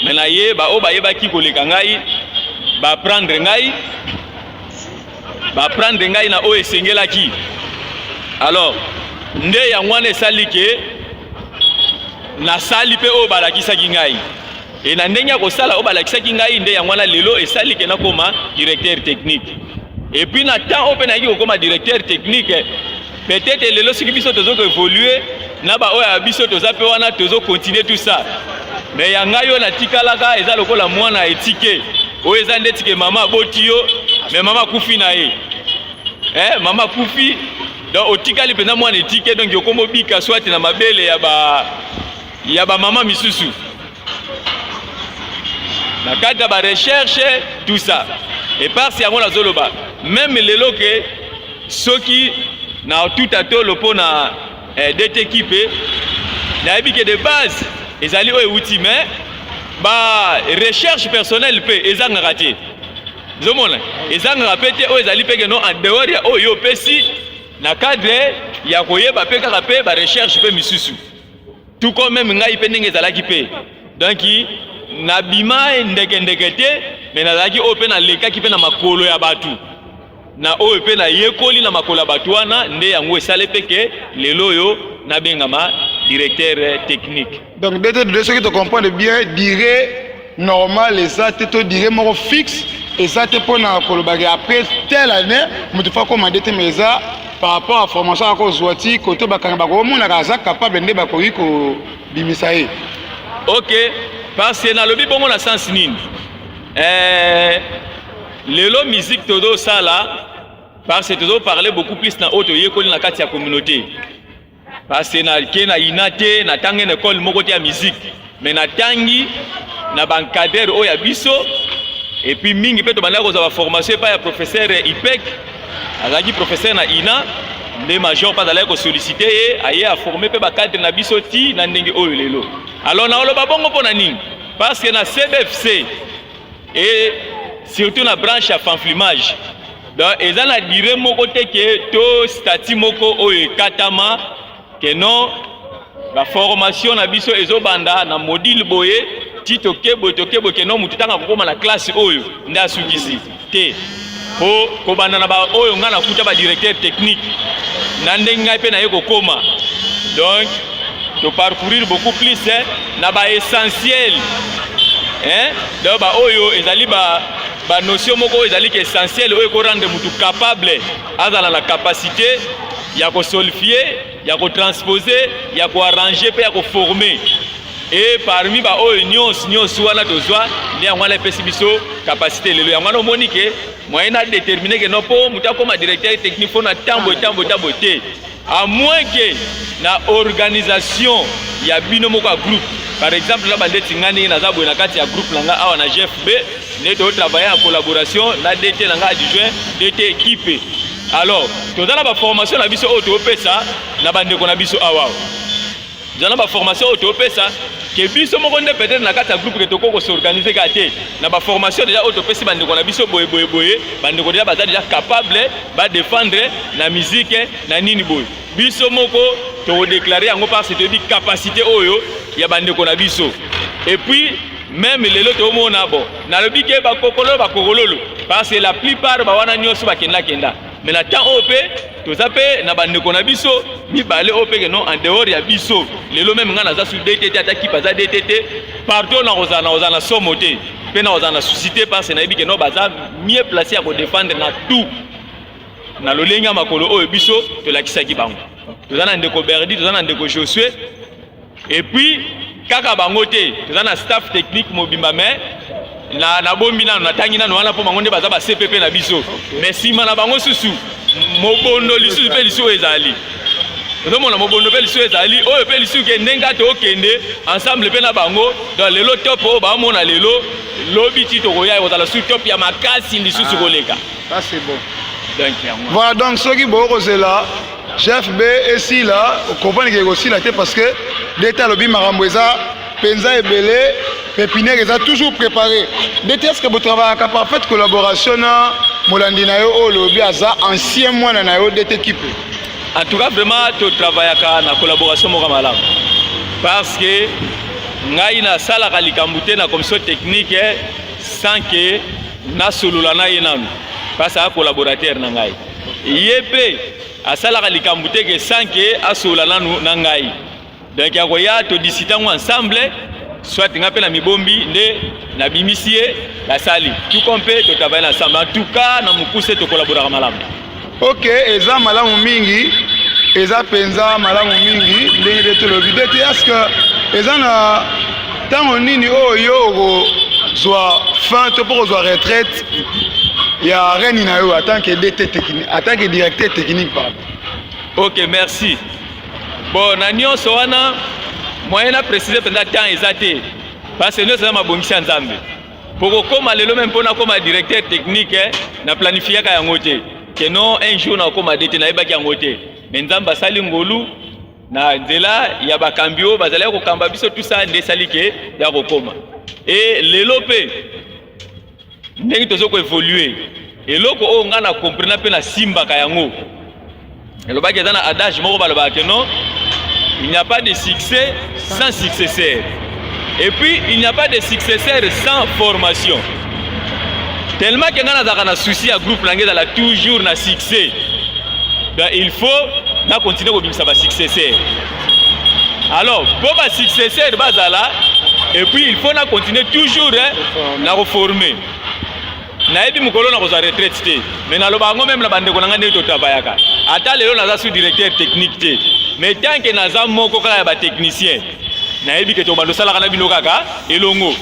me naye baoyo bayebaki koleka ngai baprendre ngai baprendre ngai na oyo esengelaki alors nde yango wana esali ke nasali mpe oyo balakisaki ngai Et na ndenge ya kosala oyo balakisaki ngai nde yango wana lelo esali ke nakoma directeur technique. Et puis na temps oyo mpe nayaki kokoma directeur technique, peut-être lelo soki biso tozo koevolue na baoyo ya biso toza mpe wana tozo continue tout ça. Mais ya ngai oyo natikalaka eza lokola mwana etike oyo eza ndeti ke mama aboti yo mais mama akufi na ye eh, mama akufi donc otikali mpenza mwana etike donc okomobika swati na mabele ya ba ya ba mama misusu na kati ya ba recherche tout ça et par si yango nazoloba meme lelo ke soki na tout atolo mpo na eh, dete kipe nayebi ke de base ezali oyo euti mais ba recherche personnelle mpe ezangaka te zomona ezangaka mpe te oyo ezali mpe keno en dehors ya oyo opesi na cadre ya koyeba mpe kaka mpe ba recherche mpe misusu tout comme meme ngai mpe ndenge ezalaki mpe donc nabima ndeke ndeke te me nazalaki oyo mpe nalekaki mpe na makolo ya bato na oyo mpe nayekoli na makolo ya bato wana nde yango esali mpe ke lelo oyo nabengama directeur technique donc dtd soki tocomprendre bien dire normal eza te to dire moko fixe eza te mpona kolobaki après telle année moto fa komande te mais eza par rapport à formation akozwa ti kote bakanga bakomonaka aza capable nde bakoki kobimisa ye ok parce que nalobi bongo na sens nini eh, lelo musique tozosala parce que tozoparle beaucoup plus na oyo toyekoli na kati ya communauté parce que nake na ina te natangi na ekole moko te ya miziki me natangi na bankadere oyo ya biso epuis mingi mpe tobandaki kozwa baformation epai ya professeur ipek azalaki professeur na ina nde major mpe azalaki kosolicite ye aye aforme mpe bakadre na biso ti na ndenge oyo lelo alors naoloba bongo mpo na nini parce que na cbfc et surtout na branche ya fanflimage donc eza na dire moko te ke to statut moko oyo ekatama ke non baformation na biso ezobanda na modile boye ti tokebwe tokebwe ke non motu ntango akokoma na classe oyo nde asukisi te mpo kobanda na baoyo ngai nakuta badirecteur technique na ndenge ngai mpe naye kokoma donc toparcourir beaucoup plus eh, na baessentiel eh, donc baoyo ezali ba banotion moko oyo ezaliki essentiel oyo ekorendre motu capable azala na capacité ya kosolfie ya ko transposer ya ko arranger mpe ya ko former e parmi baoyo nyonso nyonso wana tozwa nde yango wana epesi biso kapasite lelo yango wana omoni ke moyen na determine ke no mpo moto akoma directeur technique mpo na ntambo etambo etambo te a moins ke na organisation ya bino moko ya groupe par exemple na bandeti ngai ndenge naza boye na kati ya groupe na ngai awa na gfb nde to travailler en collaboration na DT na nga adjoint DT équipe alors toza na baformation na biso oyo topesa na bandeko na biso awa toza na baformation oyo topesa ke biso moko nde peut-être na kati ya groupe ke tokoki kosorganize kaka te na baformation deja oyo topesi bandeko na biso boye boye boye bandeko deja baza deja capable badefendre na mizike na nini boye biso moko tokodeklare yango parce toyebi capacité oyo ya bandeko na biso epuis Meme lelo tomona bo nalobi ke bakokolo bakokololo parce que la plupart ba wana nyonso bakenda kenda mais na temps oyo mpe toza mpe na bandeko na biso mibale oyo mpeke non en dehors ya biso lelo meme ngai naza su dtt ata kipe aza dtt partout nakozala nakozala na somo te mpe nakozala na susi te parce que nayebi ke non baza mieux place ya kodefendre na tout na lolenge ya makolo oyo biso tolakisaki bango toza na ndeko berdi toza na ndeko josue Et puis kaka bango te toza na staff technique mobimba mais na nabombi nano natangi nano wana mpo bango nde baza ba cpp na biso mais nsima na bango susu mobondo lisusu mpe lisusu ezali ozomona mobondo mpe lisusu ezali oyo mpe lisusu ke ndenge kaka tokende ensemble mpe na bango donc lelo top oyo baomona lelo lobi ti tokoya ekozala su top ya makasi lisusu ah, koleka ah, voilà donc soki bokozela GFB esila okomprendre ke ekosila te parce que dete alobi makambo eza mpenza ebele pepiniere eza toujours préparé dete eske botravayaka par faite collaboration na molandi na yo oyo olobi aza ancien mwana na yo dete kipe en tout cas vraiment totravayaka na collaboration moko malamu parce que ngai nasalaka likambo te na commission technique eh, sans que nasolola na ye nanu parce que aza collaborateur na ngai ye mpe asalaka likambo te ke sanke asolola nanu na ngai donc akoya todisita yango ensemble soit ngai mpe na mibombi nde nabimisi ye basali tuko mpe totavaya na ensemble en tout cas na mokuse tokolaboraka malamu ok eza malamu mingi eza mpenza malamu mingi ndenge nde tolobi nde te eske eza na ntango nini oyo yo okozwa fin to mpo kozwa retraite ya reni na yo atant que dt technique atant que directeur technique pardon ok merci bon na nyonso wana moyen na précise mpenza temps eza te parce que nyonso eza mabongisi ya nzambe mpo kokóma lelo meme mpo nakóma directeur technique eh, na planifiaka yango te ke non un jour nakóma de te nayebaki yango te me nzambe asali ngolu na nzela ya bakambi oyo bazalaki kokamba biso tusa nde esali ke ya kokóma e lelo mpe ndenge tozo ko evoluer eloko oyo ngai na comprena mpe nasimbaka yango elobaki eza na adage moko balobaka ke non il n'y a pas de succès sans successeur et puis il n'y a pas de successeur sans formation tellement ke ngai nazalaka na souci ya groupe na ngai ezala toujours na succès donc il faut na continue kobimisa basuccesseur alors mpo ba successeur bazala et puis il faut na continuer toujours eh, na koforme nayebi mokolo na kozwa retraite te mais naloba yango meme na bandeko na ngai ndenge totabayaka ata lelo naza sous directeur technique te mais tant que naza moko kaka ya batechnicien nayebi ke tobanda osalaka na bino kaka elongo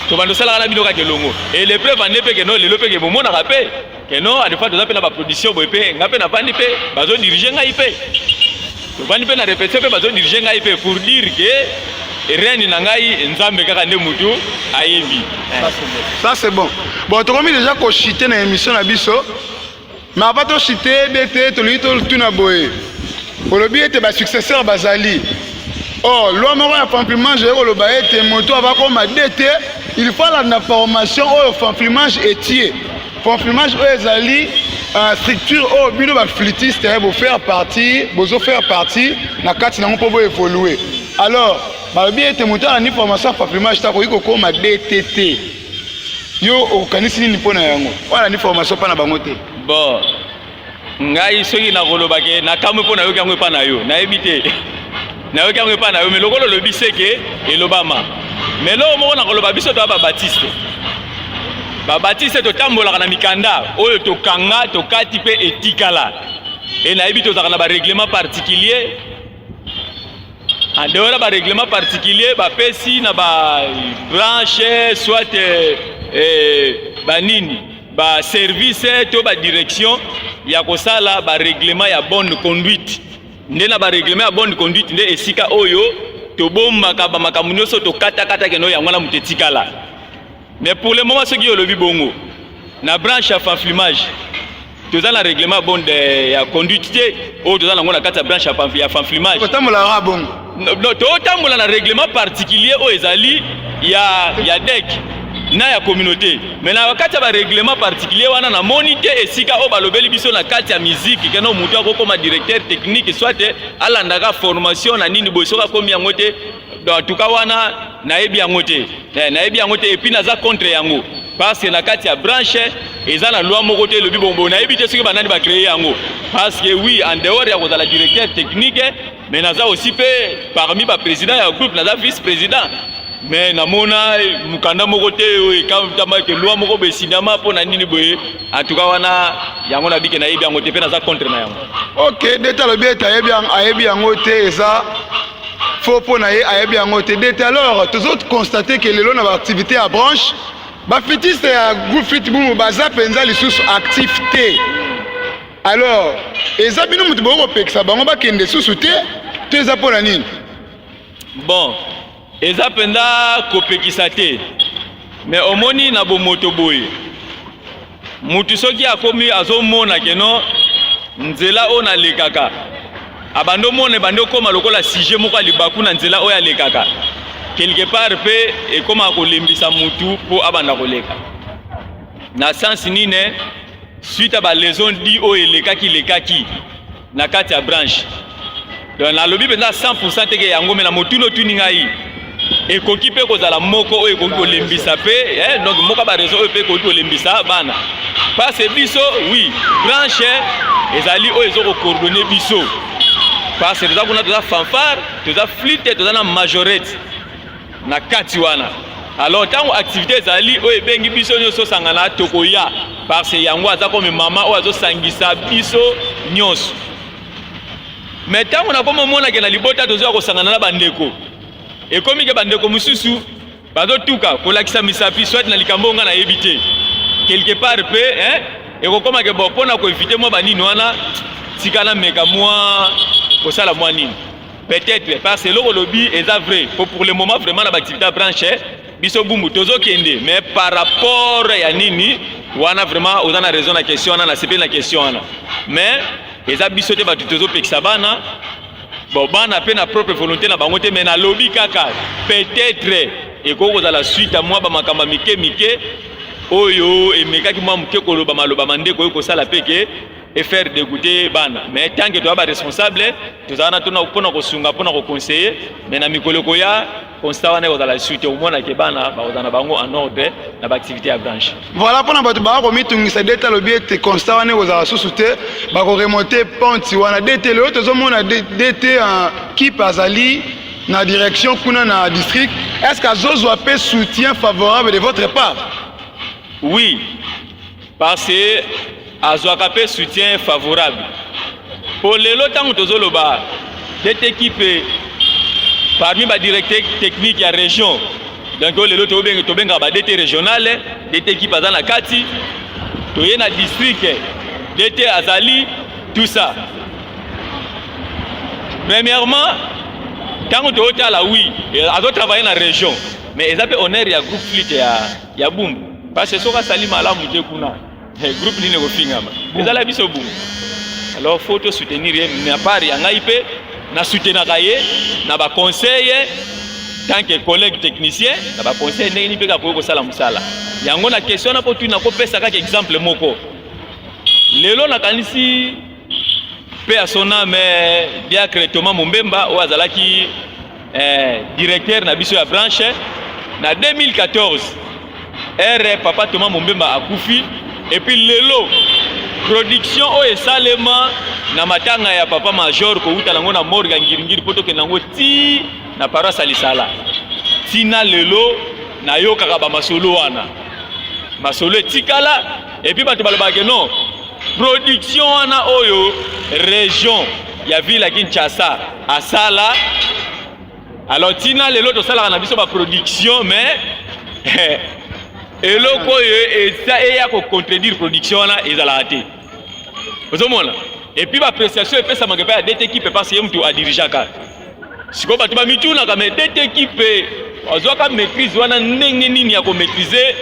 tobanda osalaka na bino kaka elongo et le preuve ande mpe ke no lelo mpe ke bomonaka mpe que non adefa toza mpe na baproduction boye mpe ngai mpe navandi mpe bazodirige ngai mpe tovandi mpe na repetition mpe bazodirige ngai mpe pour dire ke rene na ngai nzambe kaka nde motu ayebi ça c'est bon bon tokomi déjà kochite na émission na biso mais apa tochite ebe te tolingi totuna boye olobi ete basuccesseur bazali or oh, loi moko ya pamplimage eye koloba ete moto abakoma de te il faut alanda formation oyo pamplimage etie Confirmage oyo ezali uh, structure oyo oh, bino baflitiste eh, bofaire partie bozofaire partie na kati nango mpo boevolue alors balobi ete moto ana ni formation ya confirmage te akoki kokóma dtt yo okanisi nini mpo na yango wana ni formation mpa na bango te bon ngai soki nakoloba ke nakamwe mpo nayoki yango epa na yo nayebi te nayoki yango epa na yo me lokola olobi seke elobama me eloko moko nakoloba biso toya babatiste babatiste totambolaka na mikanda oyo tokanga tokati mpe etikala e nayebi tozalaka na bareglement particulier en dehors ya bareglement particulier bapesi na babranche soit eh, eh, banini ba service to ba direction ya kosala ba règlement ya bonne conduite nde na ba règlement ya bonne conduite nde esika oyo tobombaka ba makambo nyonso tokatakata keno yango wana moto etikala mais pour le moment soki olobi bongo na branche ya fanflimage toza na règlement bonde ya conduite te oyo toza nango na kati ya branche ya fanflimage totambola na règlement particulier oyo ezali ya, ya dec na ya communauté me na kati ya barèglement particulier wana namoni te esika oyo balobeli biso na kati ya miziki keno motu akokoma directeur technique soit alandaka formation na nini boye soki akomi yango te antuka wana nayebi yango te eh, nayebi yango te epuis naza contre yango parce que na kati ya branche eza na loi moko te elobi bongo nayebi te soki banani bacreye yango parce que oui en dehors ya kozala directeur technique Mais naza aussi pe parmi ba président ya groupe naza vice président mais namona mukanda moko te oyo ekamtama ke loi moko boye signama mpo na nini boye en tout cas wana yango nabike nayebi yango te mpe naza contre na yango ok deta alobi ete ayebi yango te eza faux mpo na ye ayebi yango te deta alors tozo constate ke lelo na baactivité ya branche bafitiste ya groupe fitbumu baza mpenza lisusu actif te Alors, eza bino mutu boko pekisa bango bakende susu te, to eza pona nini? Bon, eza penda kopekisa te. Mais omoni na bomoto boye. Mutu soki akomi azomona ke non nzela oyo nalekaka abandi omona ebandi okoma lokola sujet moko ya libaku na nzela oyo alekaka quelque part mpe ekomaka kolembisa mutu mpo abanda koleka na sense nini suite ya ba leçon di oyo elekaki lekaki na kati ya branche donc nalobi mpenza 100 teke yango me na motuna otuni ngai ekoki mpe kozala moko oyo ekoki kolembisa mpe eh, donc moko ya barezo oyo mpe ekoki kolembisa bana parce biso oui branche ezali oyo ezo kocoordonne biso parce toza kuna toza fanfare toza flite toza na majorete na kati wana alors ntango activité ezali oyo ebengi biso nyonso osangana tokoya parce yango aza komi mama oyo azosangisa biso nyonso me ntango nakomi omonake na libota tozoya kosangana na bandeko ekomi ke bandeko mosusu bazotuka kolakisa misapi soit na likambo oyo ngai nayebi te quelque part mpe eh, ekokoma ke bo mpo na koevite mwa banini wana tika nameka mwa kosala mwa nini Peut-être parce que eloko lobi eza vrai po pour le moment vraiment na ba activité ya branche biso bumbu tozokende mais par rapport ya nini wana vraiment oza na raison na question wana nasepeli na question wana mais eza biso te bato tozopekisa bana bon bana mpe na propre volonté na bango te mais nalobi kaka peut-être ekoki kozala suite ya mwa bamakambo ya mike mike oyo emekaki mwa moke koloba maloba ma ndeko oyo kosala mpe ke et faire dégoûter bana mais tant que toza ba responsable tozala na tona mpona kosunga mpona koconseille mais na mikolo ekoya constat wana ekozala lisusu te omona ke bana bakozala na bango en ordre na baactivité ya branche voilà mpona bato baa komitungisa dete alobi ete constat wana ekozala lisusu te bakoremonte ponti wana dete lelo tozomona dete kipe azali na direction kuna na district est ce que azozwa mpe soutien favorable de votre part oui parce que azwaka mpe soutien favorable mpo lelo ntango tozoloba cette équipe parmi badirecteur technique ya région donc oyo lelo tobengaka badete régionale dete équipe aza na kati toye na district dete azali tout ça premièrement ntango tootala wi azotravaille na région mais eza mpe honneur ya groupe flite ya ya bumbu parce que soki asali malamu te kuna eh, groupe nini ekofingama ezala biso bumbu alors faut to soutenir ye mais apart ya ngai mpe na soutenaka ye na baconseille tant que collègue technicien na baconseille ndenge nini mpe kakoki kosala mosala yango na question na kotuna kopesa kaka exemple moko lelo nakanisi Paix à son âme, eh, Diacre Thomas Mumbemba, oyo azalaki eh, directeur na biso ya branche na 2014 ere papa Thomas Mumbemba akufi epuis lelo production oyo esalema na matanga ya papa major kowuta nango na morga ngiringiri mpo tokende yango ti na paroisse ya lisala ntina lelo nayokaka bamasolo wana masolo etikala Et puis bato balobaka ke non production wana oyo region ya ville ya Kinshasa asala alors tina lelo tosalaka na biso ba production mais eloko oyo eza eya ko contredire production wana ezalaka te ozomona epuis baappréciation epesamaka epai ya dete kipe parce ye motu adirigeaka sikoyo bato bamitunaka me tete ekipe azwaka maîtrise wana ndenge nini ya komaîtrise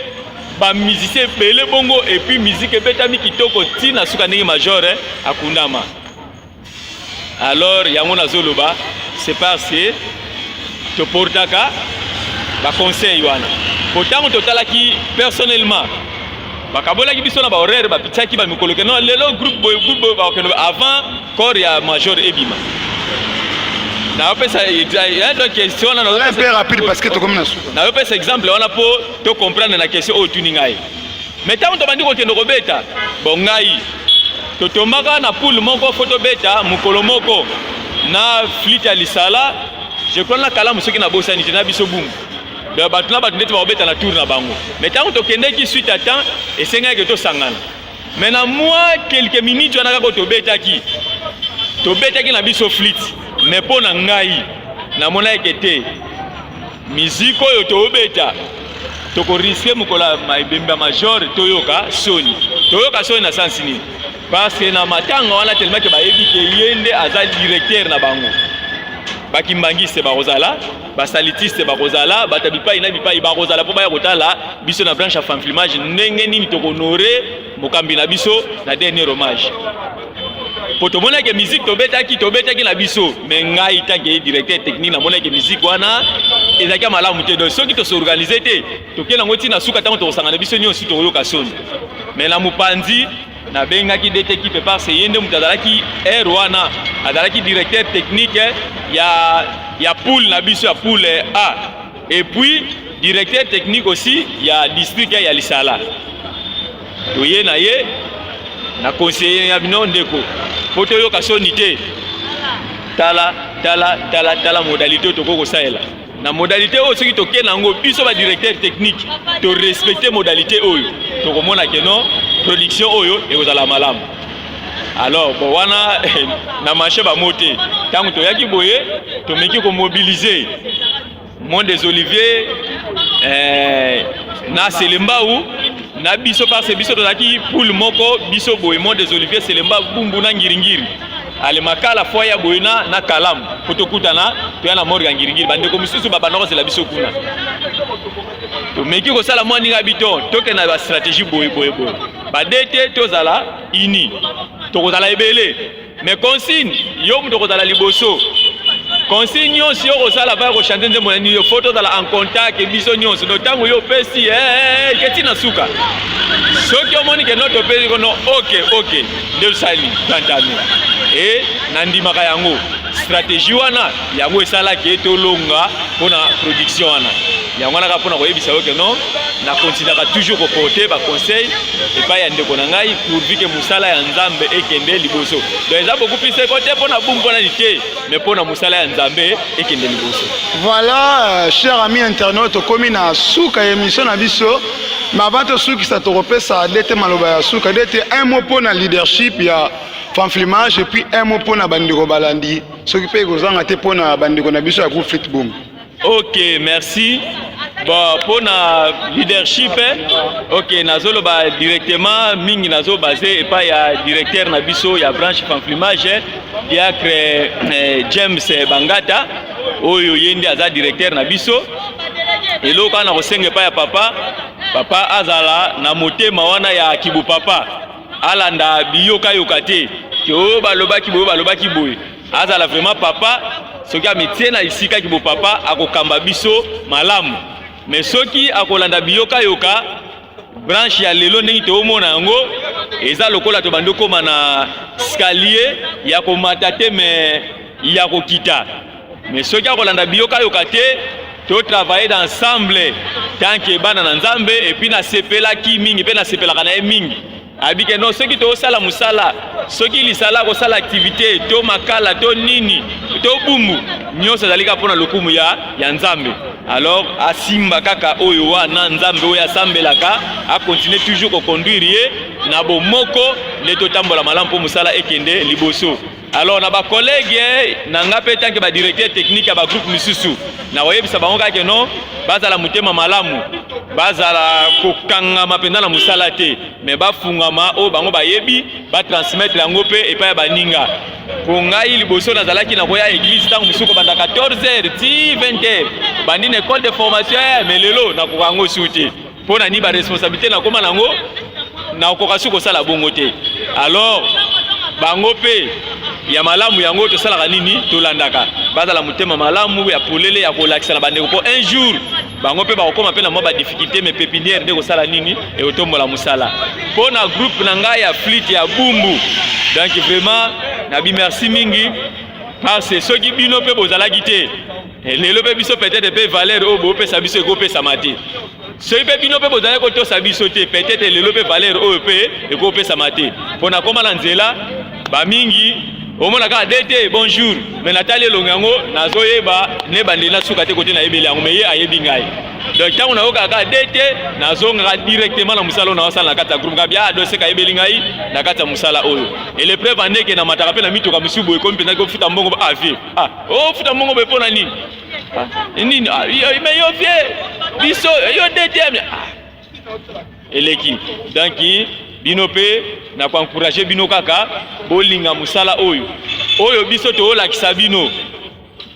bamusicien ebele bongo epuis miziki ebetami kitoko ti na suka ndenge major eh, akundama alors yango nazoloba c'est parce que toportaka baconseil wana po ntango totalaki personnellement bakabolaki biso na bahoraire bapitisaki bamikolo keno lelo groupe boye groupe boye bakokende avant Corps ya major ebima. Na opesa ya donc question na na peu rapide parce que tokomi na suka. Na opesa exemple wana po to comprendre na question oyo tuni ngai. Mais tango tobandi kokende kobeta, bon ngai totombaka na poule moko fo tobeta mokolo moko na flite ya lisala je crois na kalamu soki nabosani te na biso bungu bato na bato ndeti bakobeta na tour na bango mais ntango tokendeki suite ya temps esengaki tosangana Mais na mwa quelques minutes wana kaka tobetaki tobetaki na biso flit mais mpo na ngai namonaki ke te miziki oyo tobeta tokoriske mokolo ya ebembe ya major toyoka soni toyoka soni na sansi nini parce que na matanga wana telemake bayebi ke ye nde aza directeur na bango bakimbangiste bakozala basalitiste bakozala bato ya bipai na bipai bakozala mpo baya kotala biso na branche ya fanfilmage ndenge nini tokohonore mokambi na biso na dernier hommage mpo tomonaki miziki tobetaki tobetaki na biso me ngai tanke directeur technique namonaki miziki wana ezalaki ya malamu te donc soki tosorganize te tokei yango ntina suka ntango tokosangana biso nyonso tokoyoka soni me na mopanzi nabengaki DT Kipe parce ye nde moto azalaki aire wana azalaki directeur technique ya ya poule na biso ya poule A et puis directeur technique aussi ya district ya Lisala toye na ye na conseiller ya bino ndeko mpo toyoka soni te tala tala tala tala modalité tokoki kosalela na modalité oyo soki toke na yango biso ba directeur technique to respecter modalité oyo tokomona ke non production oyo ekozala malamu alors bon wana na marché bamo te ntango toyaki boye tomeki komobilize mont des olivier eh, na selembau na biso parce biso tozalaki poule moko biso boye mont des olivier selembau bumbu na ngiringiri ale makala fo ya boye na na kalamu mpo tokutana toya na morga ngiringiri bandeko mosusu babanda kozela biso kuna tomeki kosala mwa ndinga bito tokenda ba stratégie boye boye boye bade te tozala ini tokozala ebele mais consigne yo moto okozala liboso consigne nyonso yo okosala mpaka kochante nzembo na nini yo fo tozala en contact biso nyonso no ntango yo opesi eketi eh, eh, eh, na suka soki omoni ke noto opesi kono ok ok nde osali tantano e nandimaka yango stratégie wana yango esalaki ete olonga mpo na production wana yango wana kaka mpo na koyebisa yo ke non na continuaka toujours koporte baconseil epai ya ndeko na ngai pourvu ke mosala ya nzambe ekende liboso donc eza beaucoup plus seko te mpo na bumu mpo na lite mais mpo na mosala ya nzambe ekende liboso voilà euh, cher ami internaute tokomi na suka ya émission na biso Mais avant tosukisa tokopesa dete maloba ya suka dete un mot mpo na leadership ya fanflimage et puis un mot mpo na bandeko balandi soki mpe ekozanga te mpo na bandeko na biso ya groupe fitboom ok merci bon mpo na leadership eh, ok nazoloba directement mingi nazobase epai ya directeur na biso ya branche fanflimage eh, diacre eh, james bangata oyo ye nde aza directeur na biso eloko wana kosenga epai ya papa papa azala na motema wana ya kibo papa alanda biyokayoka te ke oyo balobaki boyo balobaki boye azala vraiment papa soki amitie na esika kibo papa akokamba biso malamu me soki akolanda biyokayoka branche ya lelo ndenge toomona yango eza lokola tobandi okoma na skalier ya komata te me ya kokita me soki akolanda biyokayoka te totravaille na ensemble tanke bana na nzambe epuis nasepelaki mingi mpe nasepelaka na ye mingi abi ke non soki tokosala mosala soki lisala kosala activité to makala to nini to bumbu nyonso ezali kaka mpo na lokumu ya, ya nzambe alors asimba kaka oyo wana nzambe oyo asambelaka akontinue toujours kokonduire ye na bomoko nde totambola malamu mpo mosala ekende liboso Alors na ba collègues na nga pe tanke ba directeur technique ya ba groupe misusu na koyebisa bango kaka ke non bazala motema malamu bazala kokangama mpenza na mosala te me bafungama oyo bango bayebi batransmettre yango mpe epai ya baninga mpo ngai liboso nazalaki na koya eglise ntango mosusu kobanda 14 heures ti 20 heures bandi na ecole de formation eh, me lelo nakoka yango su te mpo na nini baresponsabilité nakoma nango nakoka soki kosala bongo te alors bango mpe ya malamu yango tosalaka nini tolandaka bazala motema malamu ya polele ya kolakisa na bandeko mpo un jour bango mpe bakokoma mpe na mwa badifficulté me pepinière nde kosala nini ekotombola mosala mpo na groupe na ngai ya flite ya bumbu donc vraiment nabi merci mingi parce soki bino mpe bozalaki te Eh, lelo mpe biso peut-être mpe valeur oyo bopesa biso ekopesama te soki mpe bino mpe bozali kotosa biso te peut-être lelo mpe valeur oyo mpe ekopesama te mpo nakoma na nzela bamingi omona kaka de te bonjour me natali elongo yango nazoyeba ne bandeli na suka te kote nayebeli yango me ye ayebi ngai donc ntango nayokaka kaka de te nazongaka directement na mosala oyo naosala na kati ya groupe ngabi adoseka ayebeli ngai na kati ya mosala oyo elepreuve andeke namataka mpe na mituka mosusu boye komi mpenza kofuta mbongo avie Ah, oh, futa mongo boye mpo na nini ah, nini ah, yo, me yo vie biso yo ddm ah. eleki donc bino mpe na koencourage bino kaka bolinga mosala oyo oyo biso toolakisa bino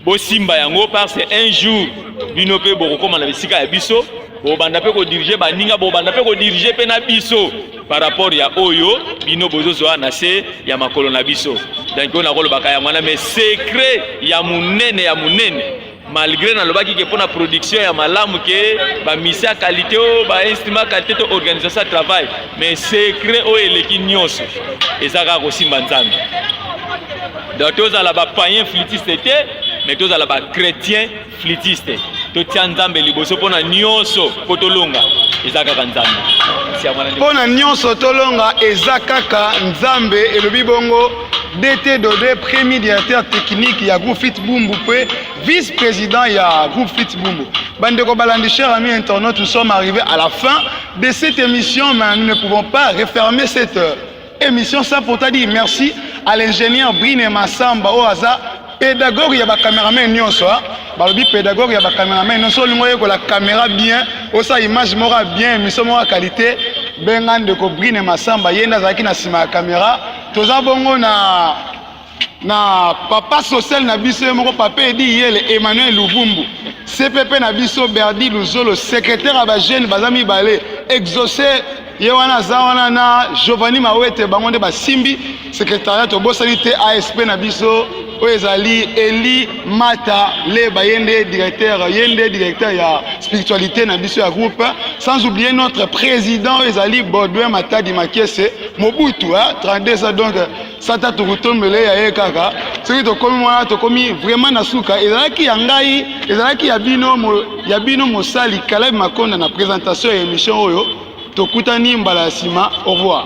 bosimba yango parce un jour bino mpe bokokóma na bisika ya biso bobanda mpe kodirige baninga bobanda mpe kodirige mpe na biso par rapport ya oyo bino bozozwa na se ya makolo na biso donc oyo nakolobaka yango wana mais secret ya monene ya monene malgré nalobaki ke mpona production ya malamu ke bamisi ya qualité o bainstrument qualité to organisation ya travail mais secret oyo eleki nyonso eza kaka kosimba nzambe donc tozala bapayen flitiste te mais tozala bachrétien flitiste totia nzambe liboso mpo na nyonso mpo tolonga eza kaka nzambe mpo na nyonso tolonga eza kaka nzambe elobi bongo dt dode premier directeur technique ya groupe fit bumbu mpe vice président ya groupe fit bumbu bandeko balandi cher ami internaute nous sommes arrivés à la fin de cette émission mais nous ne pouvons pas refermer cette Emission sans faute à dire merci à l'ingénieur Brine Massamba oyo aza pédagogue ya ba cameraman nyonso hein. balobi pédagogue ya ba cameraman nyonso olingo oyekola camera bien osa image moko ya bien émission moko ya qualité benga ndeko Brine Massamba ye nde azalaki na nsima ya camera toza bongo na na papa social na biso ye moko papa edi yele emmanuel luvumbu cpp na biso berdi luzolo secrétaire ya bajeune baza mibale exauce ye wana aza wana na giovanni mawete bango nde basimbi secrétariat tobosani te asp na biso oyo ezali eli mata leba ye nde directeur ye nde directeur ya spiritualité na biso ya groupe sans oublier notre président oyo ezali baudouin matadi makese mobutu 32 ans donc sata tokotombele ya ye kaka soki tokomi wana tokomi vraiment na suka ezalaki ya ngai ezalaki ya bino mo, ya bino mosali kalabi makonda na presentation ya emission oyo tokutani mbala ya nsima au revoir